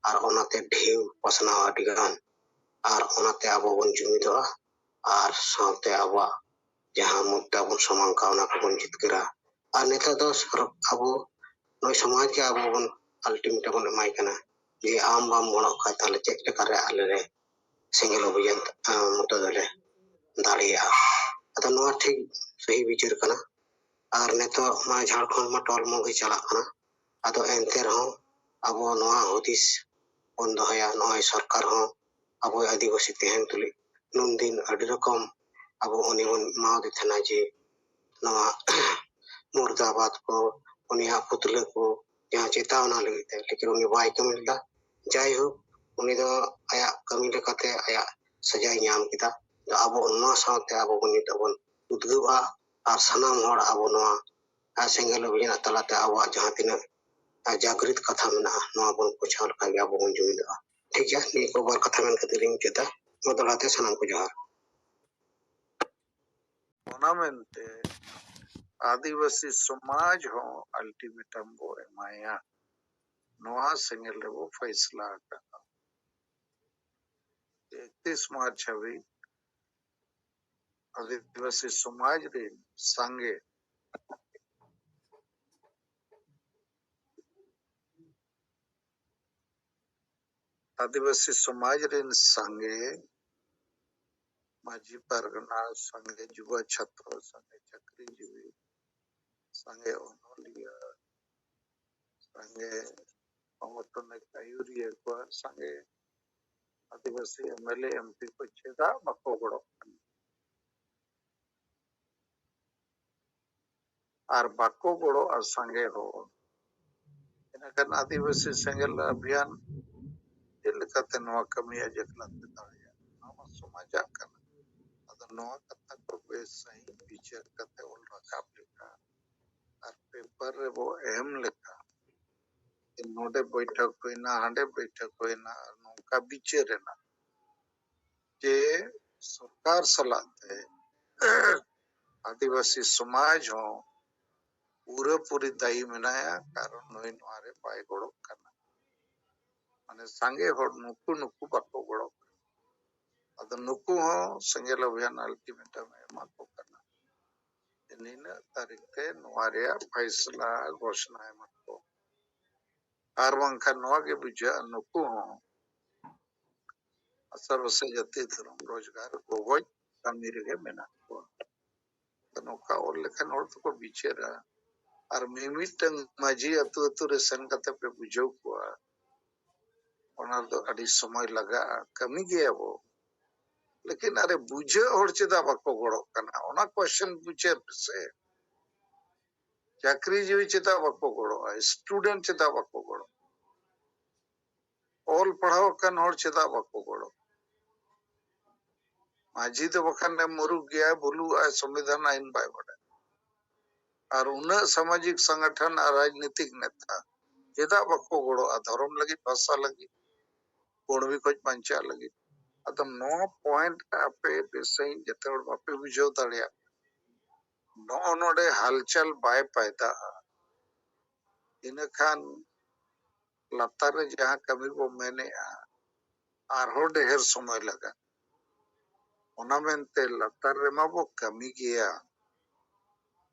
S5: ᱟᱨ ᱚᱱᱟᱛᱮ ᱰᱷᱮᱣ ᱯᱟᱥᱱᱟᱣᱟ ᱟᱹᱰᱤ ᱜᱟᱱ ᱟᱨ ᱚᱱᱟᱛᱮ ᱟᱵᱚ ᱵᱚᱱ ᱡᱩᱢᱤᱫᱚᱜᱼᱟ ᱟᱨ ᱥᱟᱶᱛᱮ ᱟᱵᱚᱣᱟᱜ ᱡᱟᱦᱟᱸ ᱢᱩᱫᱽᱫᱟ ᱵᱚᱱ ᱥᱟᱢᱟᱝ ᱠᱟᱜᱼᱟ ᱚᱱᱟ ᱠᱚᱵᱚᱱ ᱡᱤᱛᱠᱟᱹᱨᱟ ᱟᱨ ᱱᱤᱛᱚᱜ ᱫᱚ ᱟᱵᱚ ᱱᱩᱭ ᱥᱚᱢᱟᱡᱽ ᱜᱮ ᱟᱵᱚ ᱵᱚᱱ ᱟᱞᱴᱤᱢᱮᱴᱟᱢ ᱵᱚᱱ ᱮᱢᱟᱭ ᱠᱟᱱᱟ ᱡᱮ ᱟᱢ ᱵᱟᱢ ᱜᱚᱲᱚᱜ ᱠᱷᱟᱱ ᱛᱟᱦᱚᱞᱮ ᱪᱮᱫ ᱞᱮᱠᱟᱨᱮ ᱟᱞᱮ ᱞᱮ ᱥᱮᱸᱜᱮᱞ ᱚᱵᱷᱤᱡᱟᱱ ᱢᱩᱴᱟᱹ ᱫᱚᱞᱮ ᱫᱟᱲᱮᱭᱟᱜᱼᱟ ᱟᱫᱚ ᱱᱚᱣᱟ ᱴᱷᱤᱠ ᱥᱟᱹᱦᱤ ᱵᱤᱪᱟᱹᱨ ᱠᱟᱱᱟ ᱟᱨ ᱱᱤᱛᱚᱜ ᱢᱟ ᱡᱷᱟᱲᱠᱷᱚᱸᱰ ᱢᱟ ᱴᱚᱞᱢᱚ ᱜᱮ ᱪᱟᱞᱟᱜ ᱠᱟᱱᱟ ᱟᱫᱚ ᱮᱱᱛᱮ ᱨᱮᱦᱚᱸ ᱟᱵᱚ ᱱᱚᱣᱟ ᱦᱩᱫᱤᱥ ᱵᱚᱱ ᱫᱚᱦᱚᱭᱟ ᱱᱚᱜᱼᱚᱭ ᱥᱚᱨᱠᱟᱨ ᱦᱚᱸ ᱟᱵᱚ ᱟᱹᱫᱤᱵᱟᱹᱥᱤ ᱛᱟᱦᱮᱱ ᱛᱩᱞᱩᱡ ᱱᱩᱱ ᱫᱤᱱ ᱟᱹᱰᱤ ᱨᱚᱠᱚᱢ ᱟᱵᱚ ᱩᱱᱤ ᱵᱚᱱ ᱮᱢᱟᱣᱟᱫᱮ ᱛᱟᱦᱮᱱᱟ ᱡᱮ ᱱᱚᱣᱟ ᱢᱩᱨᱫᱟᱵᱟᱫᱽ ᱠᱚ ᱩᱱᱤᱭᱟᱜ ᱯᱩᱛᱞᱟᱹ ᱠᱚ ᱡᱟᱦᱟᱸ ᱪᱮᱛᱟ ᱚᱱᱟ ᱞᱟᱹᱜᱤᱫ ᱛᱮ ᱞᱮᱠᱤᱱ ᱩᱱᱤ ᱵᱟᱭ ᱠᱟᱹᱢᱤ ᱞᱮᱫᱟ ᱡᱟᱭᱦᱳᱠ ᱩᱱᱤ ᱫᱚ ᱟᱭᱟᱜ ᱠᱟᱹᱢᱤ ᱞᱮᱠᱟᱛᱮ ᱟᱭᱟᱜ ᱥᱟᱡᱟᱭ ᱧᱟᱢ ᱠᱮᱫᱟ ᱟᱵᱚ ᱱᱚᱣᱟ ᱥᱟᱶᱛᱮ ᱟᱵᱚ ᱵᱚᱱ ᱱᱤᱛᱚᱜ ᱵᱚᱱ ᱩᱫᱽᱜᱟᱹᱣᱼᱟ ᱟᱨ ᱥᱟᱱᱟᱢ ᱦᱚᱲ ᱟᱵᱚ ᱱᱚᱣᱟ ᱥᱮᱸᱜᱮᱞ ᱚᱵᱷᱤᱡᱟᱱ ᱛᱟᱞᱟᱛᱮ ᱟᱵᱚᱣᱟᱜ ᱡᱟᱦᱟᱸ ᱛᱤᱱᱟᱹᱜ ᱡᱟᱜᱽᱨᱤᱛ ᱠᱟᱛᱷᱟ ᱢᱮᱱᱟᱜᱼᱟ ᱱᱚᱣᱟ ᱵᱚᱱ ᱯᱳᱪᱷᱟᱣ ᱞᱮᱠᱷᱟᱱ ᱜᱮ ᱟᱵᱚ ᱵᱚᱱ ᱡᱩᱢᱤᱫᱚᱜᱼᱟ ᱴᱷᱤᱠ ᱜᱮᱭᱟ ᱱᱤᱭᱟᱹ ᱠᱚ ᱵᱟᱨ ᱠᱟᱛᱷᱟ ᱢᱮᱱ ᱠᱟᱛᱮ ᱞᱤᱧ ᱢᱩᱪᱟᱹᱫᱟ ᱢᱟ ᱫᱚᱲᱦᱟ ᱛᱮ ᱥᱟᱱᱟᱢ ᱠᱚ ᱡᱚᱦᱟᱨ
S1: ᱚᱱᱟ ᱢᱮᱱᱛᱮ ᱟᱹᱫᱤᱵᱟᱹᱥᱤ ᱥᱚᱢᱟᱡᱽ ᱦᱚᱸ ᱟᱞᱴᱤᱢᱮᱴᱟᱢ ᱵᱚ ᱮᱢᱟᱭᱟ ᱱᱚᱣᱟ ᱥᱮᱸᱜᱮᱞ ᱨᱮᱵᱚ ᱯᱷᱟᱭᱥᱞᱟ ᱟᱠᱟᱫᱟ ᱮᱠᱛᱤᱥ ᱢᱟᱨᱪ ᱦᱟᱹᱵᱤᱡ ᱟᱹᱫᱤᱵᱟᱹᱥᱤ ᱥᱚᱢᱟᱡᱽ ᱨᱤᱱ ᱥᱟᱸᱜᱮ ᱟᱹᱫᱤᱵᱟᱹᱥᱤ ᱥᱚᱢᱟᱡᱽ ᱨᱤᱱ ᱥᱟᱸᱜᱮ ᱢᱟᱹᱡᱷᱤ ᱯᱟᱨᱜᱟᱱᱟ, ᱥᱟᱸᱜᱮ ᱡᱩᱵᱟ ᱪᱷᱟᱛᱨᱚ, ᱥᱟᱸᱜᱮ ᱪᱟᱹᱠᱨᱤ ᱡᱤᱣᱤ, ᱥᱟᱸᱜᱮ ᱚᱱᱚᱞᱤᱭᱟᱹ, ᱥᱟᱸᱜᱮ ᱥᱚᱝᱜᱚᱴᱷᱚᱱᱤᱠ ᱟᱹᱭᱩᱨᱤᱭᱟᱹ ᱠᱚᱣᱟᱜ ᱥᱟᱸᱜᱮ ᱟᱹᱫᱤᱵᱟᱹᱥᱤ ᱮᱢᱮᱞᱮ ᱮᱢᱯᱤ ᱠᱚ ᱪᱮᱫᱟᱜ ᱵᱟᱠᱚ ᱜᱚᱲᱚᱜ ᱠᱟᱱᱟ? ᱟᱨ ᱵᱟᱠᱚ ᱜᱚᱲᱚᱜᱼᱟ ᱥᱟᱸᱜᱮ ᱦᱚᱲ᱾ ᱤᱱᱟᱹᱠᱷᱟᱱ ᱟᱹᱫᱤᱵᱟᱹᱥᱤ ᱥᱮᱸᱜᱮᱞ ᱟᱵᱷᱤᱭᱟᱱ ᱪᱮᱫ ᱞᱮᱠᱟᱛᱮ ᱱᱚᱣᱟ ᱠᱟᱹᱢᱤ ᱟᱡ ᱮᱠᱞᱟ ᱛᱮ ᱫᱟᱲᱮᱭᱟᱜᱼᱟ? ᱱᱚᱣᱟ ᱢᱟ ᱥᱚᱢᱟᱡᱽ ᱟᱜ ᱠᱟᱱᱟ᱾ ᱟᱫᱚ ᱱᱚᱣᱟ ᱠᱟᱛᱷᱟ ᱠᱚ ᱵᱮᱥ ᱥᱟᱺᱦᱤᱡ ᱵᱤᱪᱟᱹᱨ ᱠᱟᱛᱮ ᱚᱞ ᱨᱟᱠᱟᱵ ᱞᱮᱠᱷᱟᱱ ᱟᱨ ᱯᱮᱯᱟᱨ ᱨᱮ ᱵᱚ ᱮᱢ ᱞᱮᱠᱷᱟᱱ ᱡᱮ ᱱᱚᱰᱮ ᱵᱚᱭᱴᱷᱚᱠ ᱦᱩᱭ ᱮᱱᱟ, ᱦᱟᱸᱰᱮ ᱵᱚᱭᱴᱷᱚᱠ ᱦᱩᱭ ᱮᱱᱟ ᱟᱨ ᱱᱚᱝᱠᱟ ᱵᱤᱪᱟᱹᱨ ᱮᱱᱟ᱾ ᱡᱮ ᱥᱚᱨᱠᱟᱨ ᱥᱟᱞᱟᱜ ᱛᱮ ᱟᱹᱫᱤᱵᱟᱹᱥᱤ ᱥᱚᱢᱟᱡᱽ ᱦᱚᱸ ᱯᱩᱨᱟᱹᱯᱩᱨᱤ ᱫᱟᱭᱤ ᱢᱮᱱᱟᱭᱟ ᱠᱟᱨᱚᱱ ᱱᱩᱭ ᱱᱚᱣᱟ ᱨᱮ ᱵᱟᱭ ᱜᱚᱲᱚᱜ ᱠᱟᱱᱟ ᱢᱟᱱᱮ ᱥᱟᱸᱜᱮ ᱦᱚᱲ ᱱᱩᱠᱩ ᱱᱩᱠᱩ ᱵᱟᱠᱚ ᱜᱚᱲᱚᱜ ᱠᱟᱱᱟ ᱟᱫᱚ ᱱᱩᱠᱩ ᱦᱚᱸ ᱥᱮᱸᱜᱮᱞ ᱚᱵᱷᱤᱭᱟᱱ ᱟᱞᱴᱤᱢᱮᱴᱟᱢ ᱮ ᱮᱢᱟ ᱠᱚ ᱠᱟᱱᱟ ᱱᱤᱱᱟᱹᱜ ᱛᱟᱹᱨᱤᱠᱷ ᱛᱮ ᱱᱚᱣᱟ ᱨᱮᱭᱟᱜ ᱯᱷᱟᱭᱥᱞᱟ ᱜᱷᱳᱥᱱᱟ ᱮᱢᱟ ᱠᱚ ᱟᱨ ᱵᱟᱝᱠᱷᱟᱱ ᱱᱚᱣᱟ ᱜᱮ ᱵᱩᱡᱷᱟᱹᱜᱼᱟ ᱱᱩᱠᱩ ᱦᱚᱸ ᱟᱥᱟᱲ ᱵᱚᱥᱮ ᱡᱟᱹᱛᱤ ᱫᱷᱚᱨᱚᱢ ᱨᱳᱡᱽᱜᱟᱨ ᱜᱚᱜᱚᱡ ᱠᱟᱹᱢᱤ ᱨᱮᱜᱮ ᱢᱮᱱᱟᱜ ᱠᱚᱣᱟ ᱟᱫᱚ ᱱᱚᱝᱠᱟ ᱚᱞ ᱞᱮᱠᱷᱟᱱ ᱦᱚᱲ ᱫᱚᱠᱚ ᱵᱤᱪᱟᱹᱨᱟ ᱟᱨ ᱢᱤᱢᱤᱫᱴᱟᱝ ᱢᱟᱹᱡᱷᱤ ᱟᱹᱛᱩ ᱟᱹᱛᱩ ᱨᱮ ᱥᱮᱱ ᱠᱟᱛᱮ ᱯᱮ ᱵᱩᱡᱷᱟᱹᱣ ᱠᱚᱣᱟ ᱚᱱᱟ ᱨᱮᱫᱚ ᱟᱹᱰᱤ ᱥᱚᱢᱚᱭ ᱞᱟᱜᱟᱜᱼᱟ ᱠᱟᱹᱢᱤ ᱜᱮᱭᱟᱵᱚ ᱞᱮᱠᱤᱱ ᱟᱨᱮ ᱵᱩᱡᱷᱟᱹᱜ ᱦᱚᱲ ᱪᱮᱫᱟᱜ ᱵᱟᱠᱚ ᱜᱚᱲᱚᱜ ᱠᱟᱱᱟ ᱚᱱᱟ ᱠᱚᱥᱪᱮᱱ ᱵᱩᱡᱷᱟᱹᱣ ᱯᱮᱥᱮ ᱪᱟᱹᱠᱨᱤ ᱡᱤᱣᱤ ᱪᱮᱫᱟᱜ ᱵᱟᱠᱚ ᱜᱚᱲᱚᱜᱼᱟ ᱥᱴᱩᱰᱮᱱᱴ ᱪᱮᱫᱟᱜ ᱵᱟᱠᱚ ᱜᱚᱲᱚᱜᱼᱟ ᱚᱞ ᱯᱟᱲᱦᱟᱣ ᱟᱠᱟᱱ ᱦᱚᱲ ᱪᱮᱫᱟᱜ ᱵᱟᱠᱚ ᱜᱚᱲᱚ ᱢᱟᱹᱡᱷᱤ ᱫᱚ ᱵᱟᱠᱷᱟᱱ ᱮ ᱢᱩᱨᱩᱠ ᱜᱮᱭᱟᱭ ᱵᱩᱞᱩᱜᱼᱟᱭ ᱥᱚᱝᱵᱤᱫᱷᱟᱱ ᱟᱹᱭᱤᱱ ᱵᱟᱭ ᱵᱟᱰᱟᱭᱟ ᱟᱨ ᱩᱱᱟᱹᱜ ᱥᱟᱢᱟᱡᱤᱠ ᱥᱚᱝᱜᱚᱴᱷᱚᱱ ᱟᱨ ᱨᱟᱡᱽᱱᱤᱛᱤᱠ ᱱᱮᱛᱟ ᱪᱮᱫᱟᱜ ᱵᱟᱠᱚ ᱜᱚᱲᱚᱜᱼᱟ ᱫᱷᱚᱨᱚᱢ ᱞᱟᱹᱜᱤᱫ ᱵᱷᱟᱥᱟ ᱞᱟᱹᱜᱤᱫ ᱠᱩᱬᱵᱤ ᱠᱷᱚᱡ ᱵᱟᱧᱪᱟᱜ ᱞᱟᱹᱜᱤᱫ ᱟᱫᱚ ᱱᱚᱣᱟ ᱯᱚᱭᱮᱱᱴ ᱟᱯᱮ ᱵᱮᱥ ᱥᱟᱺᱦᱤᱡ ᱡᱮᱛᱮ ᱦᱚᱲ ᱵᱟᱯᱮ ᱵᱩᱡᱷᱟᱹᱣ ᱫᱟᱲᱮᱭᱟᱜ ᱱᱚᱜᱼᱚ ᱱᱚᱰᱮ ᱦᱟᱞᱪᱟᱞ ᱵᱟᱭ ᱯᱟᱭᱫᱟᱜᱼᱟ ᱤᱱᱟᱹ ᱠᱷᱟᱱ ᱞᱟᱛᱟᱨ ᱨᱮ ᱡᱟᱦᱟᱸ ᱠᱟᱹᱢᱤ ᱵᱚ ᱢᱮᱱᱮᱜᱼᱟ ᱟᱨᱦᱚᱸ ᱰᱮᱦᱮᱨ ᱥᱚᱢᱚᱭ ᱞᱟᱜᱟᱜᱼᱟ ᱚᱱᱟ ᱢᱮᱱᱛᱮ ᱞᱟᱛᱟᱨ ᱨᱮᱢᱟ ᱵᱚ ᱠᱟᱹᱢᱤ ᱜᱮᱭᱟ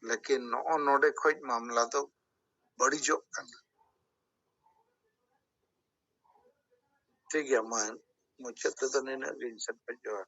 S1: ᱞᱮᱠᱤᱱ ᱱᱚᱜᱼᱚ ᱱᱚᱰᱮ ᱠᱷᱚᱡ ᱢᱟᱢᱞᱟ ᱫᱚ ᱵᱟᱹᱲᱤᱡᱚᱜ ᱠᱟᱱᱟ ᱴᱷᱤᱠ ᱜᱮᱭᱟ ᱢᱟ ᱢᱩᱪᱟᱹᱫ ᱛᱮᱫᱚ ᱱᱤᱱᱟᱹᱜ ᱜᱮ ᱤᱧ ᱥᱮᱫ ᱠᱷᱚᱡ ᱡᱚᱦᱟᱨ